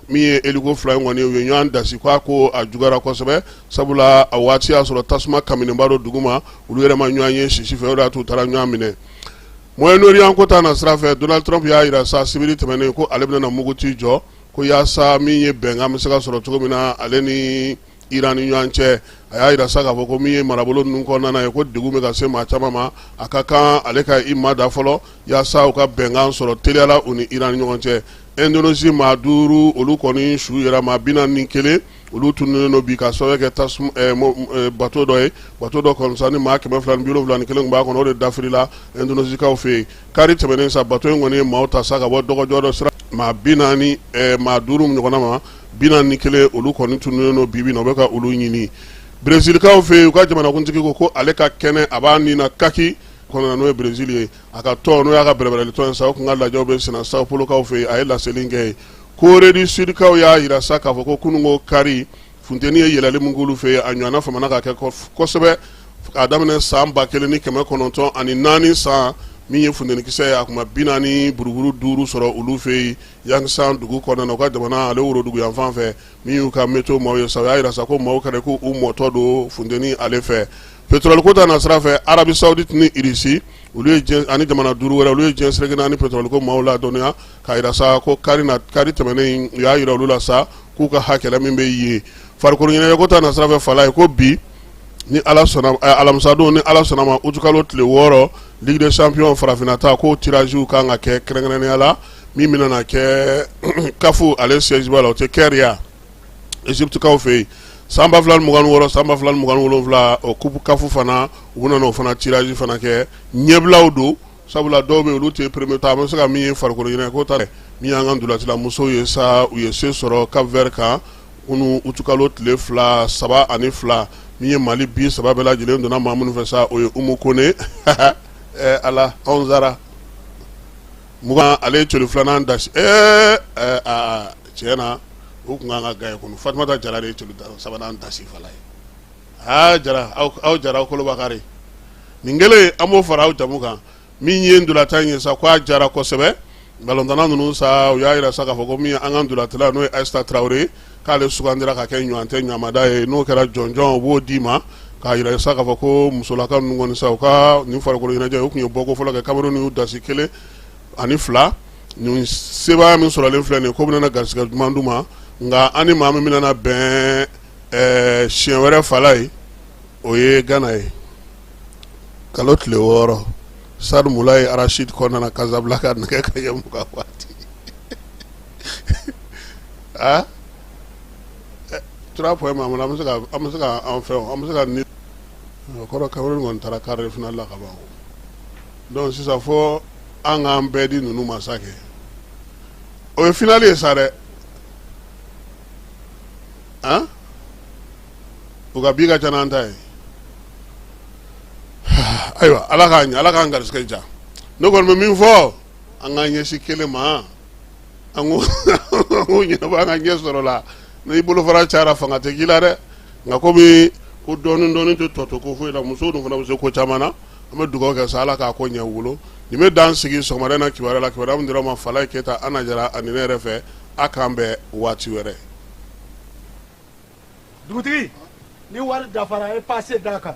min ye eliko fila in kɔni u ye ɲɔgɔn dasi k'a ko a juguyara kosɛbɛ sabula a waati y'a sɔrɔ tasuma kaminenba don duguma olu yɛrɛ ma ɲɔgɔn ye sisi fɛ o de y'a t'u taara ɲɔgɔn minɛ Moyen Orient ko ta na sira fɛ, Donald Trump y'a jira sa sibiri tɛmɛnen ko ale bɛna muguti jɔ ko yasa min ye bɛnkan bɛ se ka sɔrɔ cogo min na ale ni Iran ni ɲɔgɔn cɛ. A y'a jira sa k'a fɔ ko min ye marabolo ninnu kɔnɔna ye ko degun bɛ ka se maa caman ma, a ka kan ale ka i ma da fɔlɔ yasa u ka bɛnkan sɔrɔ teliya la u ni Iran ni ɲɔgɔn cɛ. Indonesie maa duuru olu kɔni su yera maa 41 olu tununnen don bi ka sababu kɛ tasuma eh, eh, bato dɔ ye bato dɔ kɔni sa ni maa kɛmɛ fila ni bi wolonwula ni kelen tun b'a kɔnɔ o de dafirila indonezikaw fɛ yen kari tɛmɛnen sa bato in kɔni ye maaw ta sa ka bɔ dɔgɔjɔ dɔ sira maa bi naani eh, maa duuru ɲɔgɔnna maa bi naani ni kelen olu kɔni tununnen don bibi na u bɛ ka olu ɲini brezilikaw fɛ yen u ka jamanakuntigi ko ko ale ka kɛnɛ a b'a ni na kaki kɔnɔna n'o ye brezil ye a ka tɔn n'o y'a ka bɛrɛbɛrɛli tɔn ye sa o tun ka lajɛw bɛ senna sao polokaw fɛ yen a ye laseli kɛ yen Corée du Sud kaw y'a jira sa k'a fɔ ko kununko kari funteni ye yɛlɛli min k'olu fɛ yen a ɲɔgɔnna famana ka kɛ kosɛbɛ k'a daminɛ san ba kelen ni kɛmɛ kɔnɔntɔn ani naani san min ye funtenikisɛ ye a kun ma bi naani buruburu duuru sɔrɔ olu fɛ yen Yangsan dugu kɔnɔna na u ka jamana ale worodugu yan fan fɛ min y'u ka météo maaw ye sa u y'a jira sa ko maaw kɛra ko u mɔtɔ don funteni ale fɛ pétrole ko ta na sira fɛ Arabie Saoudite ni Russie olu ye ani jamana duuru wɛrɛ olu ye diɲɛ seleke naani pétrole ko maaw ladɔnniya k'a jira sa ko kari na kari tɛmɛnen u y'a jira olu la sa k'u ka hakɛla min bɛ yen farikolo ɲɛnajɛko ta na sira fɛ fala ye ko bi ni ala sɔnna eh, alamisadon ni ala sɔnna ma utukalo tile wɔɔrɔ ligue des champions farafinna ta k'o tirage kan ka kɛ kɛrɛnkɛrɛnnenya la min bɛna na kɛ CAF ale siège ba la o tɛ Caire ye egypte kaw fɛ yen san ba fila ni mugan ni wɔɔrɔ san ba fila ni mugan ni wolonwula o coupe CAF fana u bɛna n'o fana tirage fana kɛ ɲɛbilaw don sabula dɔw bɛ olu tɛ premier ta a bɛ se ka min ye farikolo ɲɛnajɛko ta min y'an ka ntolatilamusow ye sa u ye se sɔrɔ Cap-Vert kan kunun utukalo tile fila saba ani fila min ye mali bi saba bɛɛ lajɛlen donna maa minnu fɛ sa o ye umu kone ala anwsara mugan ale ye celu filanan dasi ee tiɲɛ na u tun kan ka gaɲe kunun fatumata jara de ye celu sabanan dasi fa ye aa jara aw aw jara aw kolobakari nin kelen an b'o fara aw jamu kan min ye ntolatan in ye sa ko a diyara kosɛbɛ balontanna ninnu sa u y'a jira sa k'a fɔ ko min ye an ka ntolatila n'o ye ayisita tarawele ye k'ale sugandira ka kɛ ɲɔgɔntɛ ɲamada ye n'o kɛra jɔnjɔn u b'o d'i ma k'a jira sa k'a fɔ ko musolaka ninnu kɔni sa u ka nin farikolo ɲɛnajɛ u tun ye bɔko fɔlɔ kɛ kameruni y'u dasi kelen ani fila nin sebaaya min sɔrɔlen filɛ nin ye ko bɛna garisɛgɛ duman d'u ma nka an ni maa min bɛna bɛn ɛɛ siɲɛ wɛrɛ Falaye o ye Gana ye kalo tile wɔɔrɔ stade Moulay Rachid kɔnɔna Casablanca nɛgɛ kanɲɛ mugan waati aa trois points ma an bɛ se ka an bɛ se ka enfin an bɛ se ka ni kɔrɔ Cameroun kɔni taara quart de finale la ka ban donc sisan fɔ an k'an bɛɛ di ninnu ma sa kɛ o ye finali ye sa dɛ u ka bi ka ca n'an ta ye ayiwa Ala k'a ɲɛ Ala k'an garisigɛ diya ne kɔni bɛ min fɔ an k'an ɲɛsin kelen ma an k'o an k'o ɲɛnabɔ an ka ɲɛ sɔrɔ o la n'i bolofara cayara fanga tɛ k'i la dɛ nka komi ko dɔɔnin dɔɔnin tɛ tɔ to ko foyi la musow dun fana bɛ se ko caman na an bɛ dugawu kɛ sa Ala k'a ko ɲɛ u bolo nin bɛ dan sigi sɔgɔmada in na kibaruya la kibaruya min dira aw ma Falaye Keyita Ana Jara ani ne yɛrɛ fɛ A k'an bɛn waati wɛrɛ dugutigi ni wari dafara ye pase d'a kan